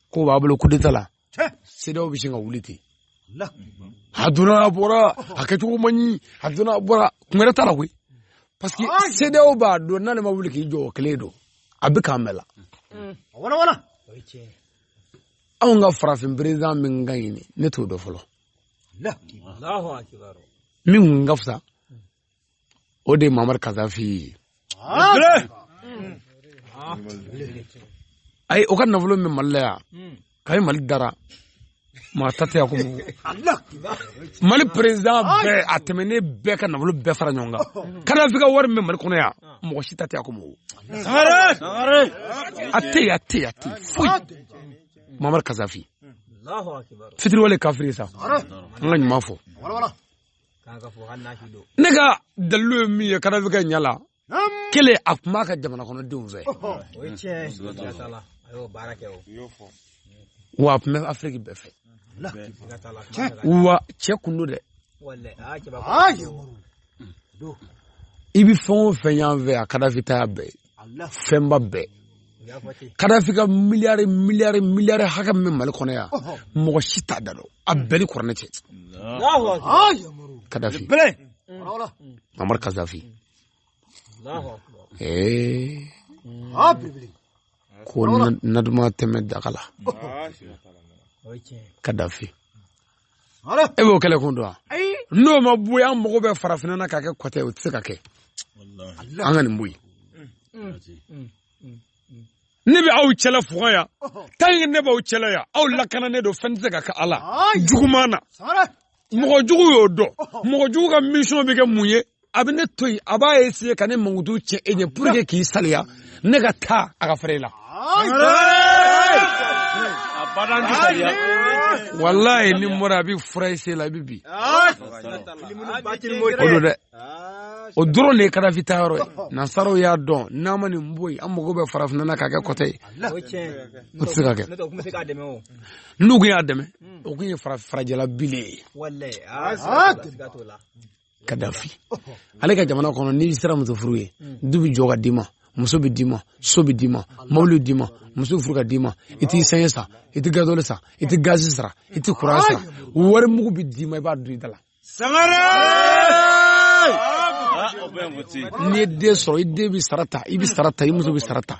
ko b'a bolo kudeta la CEDEAO bɛ sin ka wuli ten a donna a bɔra a kɛcogo man ɲi a donna a bɔra kun wɛrɛ t'a la koyi parce que CEDEAO b'a dɔn n'ale ma wuli k'i jɔ o kelen don a bɛ k'an bɛɛ la anw ka farafin perezidan min ka ɲi ne t'o dɔn fɔlɔ min kun ka fisa o de ye mamari kazafi ye ayi o ka nafolo min bɛ mali la yan kayi mali dara maa ta tɛ yan ko mali perezidan bɛɛ a tɛmɛnen bɛɛ ka nafolo bɛɛ fara ɲɔgɔn kan kadafi ka wari min bɛ mali kɔnɔ yan mɔgɔ si ta tɛ yan ko a tɛ yen a tɛ yen a tɛ yen foyi mamari kazafi fitiriwale kafiri sa an ka ɲuman fɔ ne ka dalilu ye min ye kadafi ka ɲɛ la kelen a kun b'a ka jamana kɔnɔ denw fɛ wa a tun bɛ afiriki bɛɛ fɛ wa cɛ kun don dɛ i bɛ fɛn o fɛn y'an fɛ yan kadafi ta y'a bɛɛ ye fɛnba bɛɛ kadafi ka miliyari miliyari miliyari hakɛ min bɛ mali kɔnɔ yan mɔgɔ si t'a da dɔn a bɛɛ ni kuranɛ cɛ kadafi mamari kadafi ko na duman tɛ mɛn daga la kadafi e b'o kɛlɛ kun dɔn n'o ma bɔ yan an mago bɛ farafinna na k'a kɛ kɔtɛ o tɛ se ka kɛ an ka nin bɔ yen mm. mm. mm. ne bɛ aw cɛla fuga yan tant que ne b'aw cɛla yan aw lakananen don fɛn tɛ se ka kɛ aw la juguman na mɔgɔ jugu y'o dɔn mɔgɔ jugu ka mission bɛ kɛ mun ye a bɛ ne to yen a b'a essayer ka ne mankutu cɛ e ɲɛ pour que k'i saliya ne ka taa a ka fɛrɛ la. walayi ni n bɔra a bɛ fura i sen la i bɛ bin. o don dɛ o dɔrɔn de ye kadafi ta yɔrɔ ye nansaraw y'a dɔn n'an ma nin bɔ yen an mago bɛ farafinna na k'a kɛ kɔtɛ ye o tɛ se ka kɛ n'u tun y'a dɛmɛ o tun ye farajɛla bile ye. kadafi ale ka jamana kɔnɔ n'i sera muso furu ye du bɛ jɔ ka d'i ma muso bɛ d'i ma so bɛ d'i ma mobili bɛ d'i ma muso furu ka d'i ma i tɛ esansi san i tɛ gazoli san i tɛ gazi sara i tɛ kuran sara wari mugu bɛ d'i ma i b'a dun i da la n'i ye den sɔrɔ i den bɛ sara ta i bɛ sara ta i muso bɛ sara ta.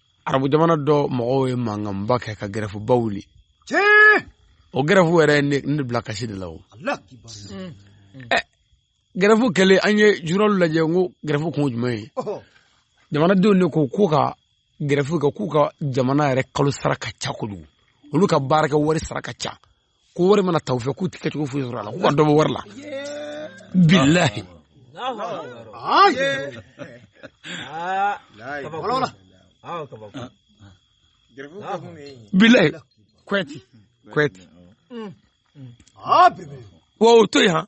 arabu jamana dɔ mɔgɔw ye mankanba kɛ ka gɛrɛfuba wuli o gɛrɛfu yɛrɛ ye ne bila kasi de la o gɛrɛfu kɛlen an ye journal lajɛ n ko gɛrɛfu kun jumɛn ye jamanadenw de ko k'u ka gɛrɛfu kɛ k'u ka jamana yɛrɛ kalo sara ka ca kojugu olu ka baarakɛ wari sara ka ca ko wari mana ta u fɛ k'u tɛ kɛcogo foyi sɔrɔ a la k'u ka dɔ bɔ wari la bilahi bilahi kwɛti kwɛti wa o to yen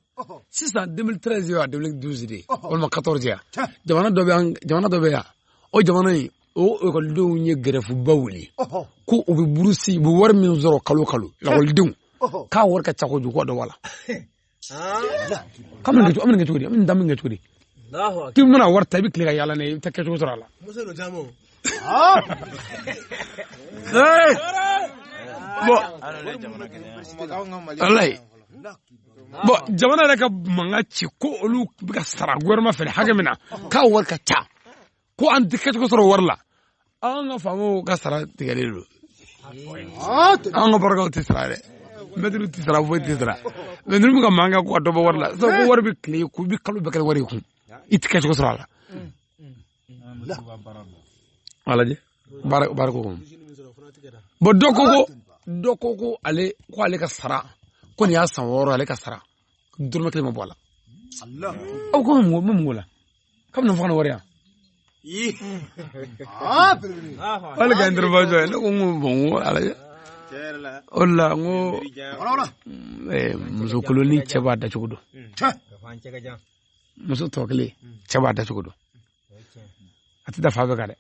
sisan 2013 ye wa 2012 de ye walima 14 ya jamana dɔ bɛ yan jamana dɔ bɛ yan o jamana in o ekɔlidenw ye gɛrɛfuba wuli ko u bɛ burusi u bɛ wari min sɔrɔ kalo kalo ekɔlidenw k'a wari ka ca kojugu dɔ bɔ a la k'an bɛna kɛ cogo di an bɛna da min kɛ cogo di k'i bɛna wari ta i bɛ tile ka yaala n'a ye i bɛ taa kɛcogo sɔrɔ a la walayi bɔn jamana yɛrɛ ka mankan ci ko olu bɛ ka sara gouvernement fɛ hakɛ min na k'a wari ka ca ko an tɛ kɛcogo sɔrɔ wari la an ka faamaw ka sara tigɛlen don an ka baarakɛlaw tɛ sara dɛ mɛtiriw tɛ sara foyi tɛ sara mɛ ninnu bɛ ka mankan kɛ ko ka dɔ bɔ wari la sabu ko wari bɛ tile k'u bɛ kalo bɛɛ kɛ wari kun i tɛ kɛcogo sɔrɔ a la a lajɛ baara baara ko kɔnɔ bɔn dɔ ko ko dɔ ko ko ale ko ale ka sara ko nin y'a san wɔɔrɔ ale ka sara dɔrɔmɛ kelen ma bɔ a la aw ko mun bɛ mun ko la k'a bɛna fɔ ka na wari yan wali ka intervention ye ne ko n ko bɔn n ko ala ye o de la n ko muso koloni cɛ b'a dacogo dɔn muso tɔ kelen cɛ b'a dacogo dɔn a tɛ da fan bɛɛ kan dɛ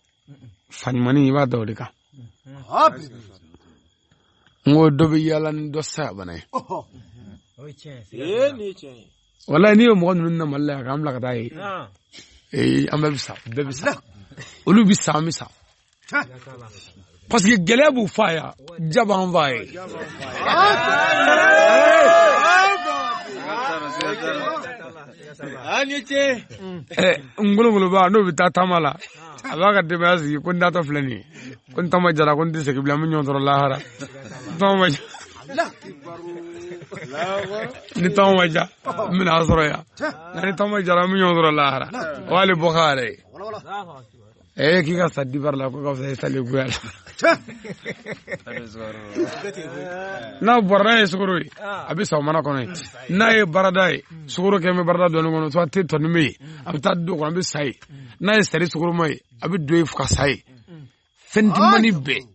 fan ɲumanin i b'a da o de kan n ko dɔ bɛ yaala ni dɔ saya bana ye walayi n'i ye mɔgɔ ninnu na mali la yan k'an bila ka taa yen ee an bɛɛ bɛ sa bɛɛ bɛ sa olu bɛ sa an bɛ sa parce que gɛlɛya b'u fa ya jaba an fa ye ngolongoloba n'o bɛ taa taama la a b'a ka denbaya sigi ko n taatɔ filɛ nin ye ko ni taama jara ko n tɛ segin bilen an bɛ ɲɔgɔn sɔrɔ lahara ni taama ma ja n bɛna a sɔrɔ yan nka ni taama jara an bɛ ɲɔgɔn sɔrɔ lahara o y'ale bɔ k'a yɛrɛ ye eh k'i ka sa dibara la ko ka fisa i salen goya la n'a bɔra n'a ye sukoro ye a bɛ sa o mana kɔnɔ ye n'a ye barada ye sukoro kɛ bɛ barada dɔɔni kɔnɔ to a te tɔni bɛ ye a bɛ taa don kɔnɔ a bɛ sa ye n'a ye sari sukoroma ye a bɛ don ye fo ka sa ye fɛn dimani bɛɛ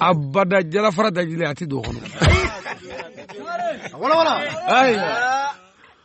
abada jalafara dajilen a tɛ don o kɔnɔ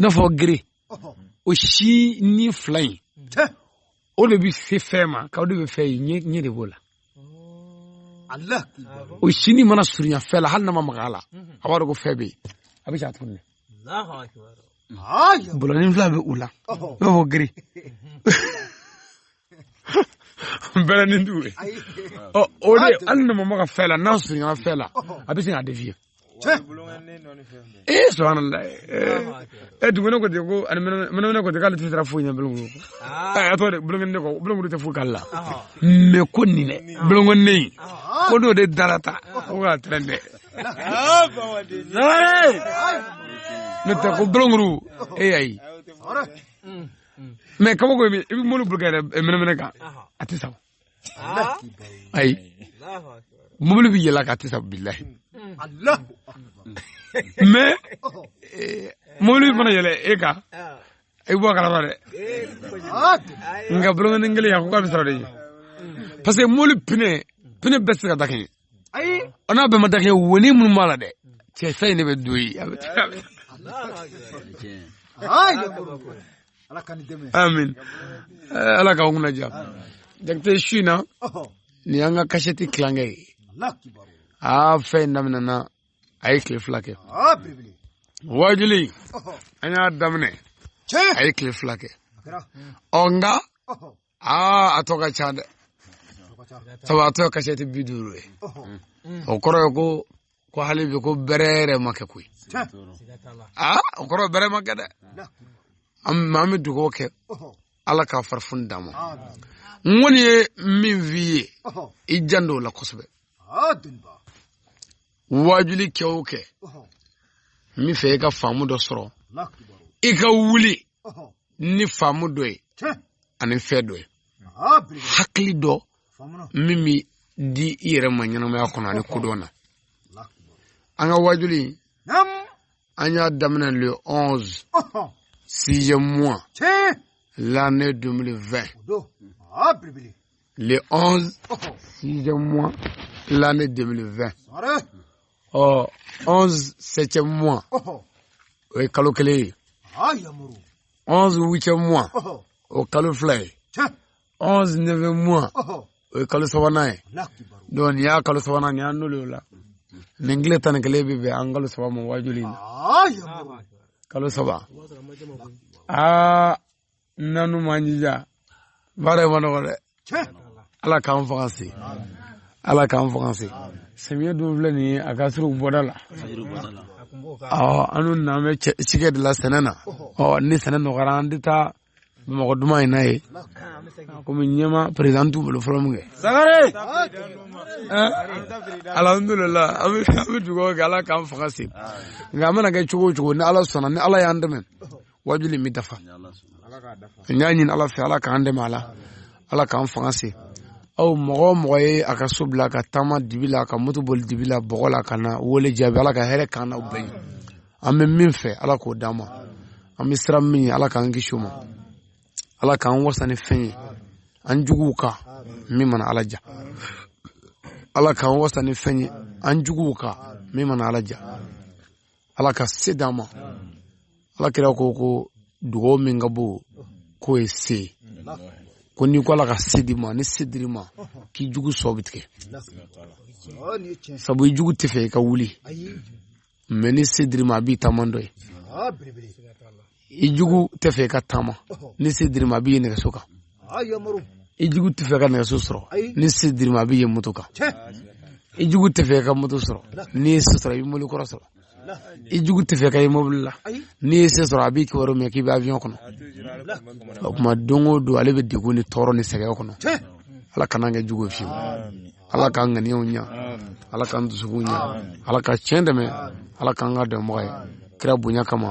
n'a fɔ gere o sinin fila in o de bɛ se fɛn ma k'o de bɛ fɛn ye ɲɛ de b'o la o sinin mana surunya fɛn la hali n'a ma maga a la a b'a dɔn ko fɛn bɛ yen a bɛ se a dugumɛnɛ bolonin fila bɛ u la i n'a fɔ gere bɛrɛ ni dugu ye ɔ o de hali n'a ma maga fɛn la n'a surunyana fɛn la a bɛ sin k'a dévier ee subhanallah e dugumɛnɛ ko ten ko ani mɛnɛmɛnɛ ko ten k'ale tɛ siran foyi ɲɛ bolonkuru a tɔ de bolonkɔnin de kɔ bolonkuru tɛ foyi k'ale la mais kɔnin dɛ bolonkɔnin in ko n'o de dara ta ko k'a tɛrɛn dɛ ne tɛ ko bolonkuru e y'a ye mm. mais kabako i bɛ mobili boli kɛ mɛnɛmɛnɛ kan a tɛ sa ah. ayi mobili bɛ yɛlɛ a kan a tɛ sa bilahi mm. mais eh, mobili fana yɛlɛ e kan ah. i bɔ a kalama dɛ nka bolonkɔnin kelen a ko k'a bɛ siran o de ɲɛ mm. parce que mobili pine pine bɛɛ tɛ se ka dakɛɲɛ ayi o n'a bɛɛ ma dakɛɲɛ wonin minnu b'a la dɛ cɛ fɛn in de bɛ don ye a bɛ taa amin eh, ala k'aw kunna ja jakite su in na nin y'an ka kasɛti tilankɛ ye aa fɛn in daminɛna a ye tile fila kɛ wajuli an y'a daminɛ a ye tile fila kɛ ɔ nka aa a tɔ ka ca dɛ sabu a tɔ kasɛti bi duuru ye o kɔrɔ ye ko ko hali bi ko bɛrɛ yɛrɛ ma kɛ koyi aa o kɔrɔ bɛrɛ ma kɛ dɛ an an bɛ dugawu kɛ ala k'a farifoni d'a ma n kɔni ye min f'i ye i jan don o la kosɛbɛ waajuli kɛ o kɛ n b'a fɛ i ka faamu dɔ sɔrɔ i ka wuli ni faamu dɔ ye ani fɛn dɔ ye hakili dɔ min bɛ di i yɛrɛ ma ɲɛnamaya kɔnɔ ani kodɔn na an ka waajuli an y'a daminɛ le 11 sixième mois l'année 2020 le 11 sixième mois l'année 2020 ɔ onze septième mois o ye kalo kelen ye onze huitième mois o kalo fila ye onze neuvième mois o ye kalo sabanan ye donc nin y'a kalo sabanan nin y'a n'olu la nin tile tan ni kelen bɛ bɛn an kalo saba ma waajuli in na kalo saba aa n'an m'an jija baara in man nɔgɔ dɛ ala k'an fanga se ala k'an fanga se samiya dun filɛ nin ye a ka surun bɔda la awɔ an dun n'an bɛ cikɛ de la sɛnɛ na ɔ ni sɛnɛ nɔgɔyara an tɛ taa bamakɔ duman in na ye komi ɲɛmaa perezidan t'u bolo fɔlɔ min kɛ sagare alhamdulilah an bɛ dugawu kɛ ala k'an fanga se nka an mana kɛ cogo o cogo ni ala sɔnna ni ala y'an dɛmɛ waajuli in bɛ dafa n y'a ɲini ala fɛ ala k'an dɛmɛ a la ala k'an fanga se aw mɔgɔ o mɔgɔ ye a ka so bila ka taama dibi la ka moto boli dibi la bɔgɔ la ka na wele jaabi ala ka hɛrɛ k'an n'aw bɛɛ ye an bɛ min fɛ ala k'o d'an ma an bɛ siran min ye ala k'an kisi o ma ala k'an wasa ni fɛn ye an juguw kan min mana ala diya ala k'an wasa ni fɛn ye an juguw kan min mana ala diya ala ka se d'an ma ala kira ko ko dugaw min ka bon k'o ye se ye ko n'i ko ala ka se d'i ma ni se dir'i ma k'i jugu sɔn bɛ tigɛ sabu i jugu t'a fɛ i ka wuli mais ni se dir'i ma a b'i taamatɔ ye i jugu t'a fɛ i ka taama ni se dir'i ma a b'i ye nɛgɛso kan i jugu t'a fɛ i ka nɛgɛso sɔrɔ ni se dir'i ma a b'i ye moto kan i jugu t'a fɛ i ka moto sɔrɔ n'i ye se sɔrɔ i bɛ mobili kɔrɔ sɔrɔ i jugu t'a fɛ k'i ye mobili la n'i ye se sɔrɔ a b'i kibaru mɛn k'i bɛ avion kɔnɔ o kuma don o don ale bɛ degun ni tɔɔrɔ ni sɛgɛn kɔnɔ ala kan'an kɛ jugu ye fiyewu ala k'an ŋaniyaw ɲa ala k'an dusukun ɲa ala ka tiɲɛ dɛmɛ ala k'an k'a dɛmɛbaga ye kira bonya kama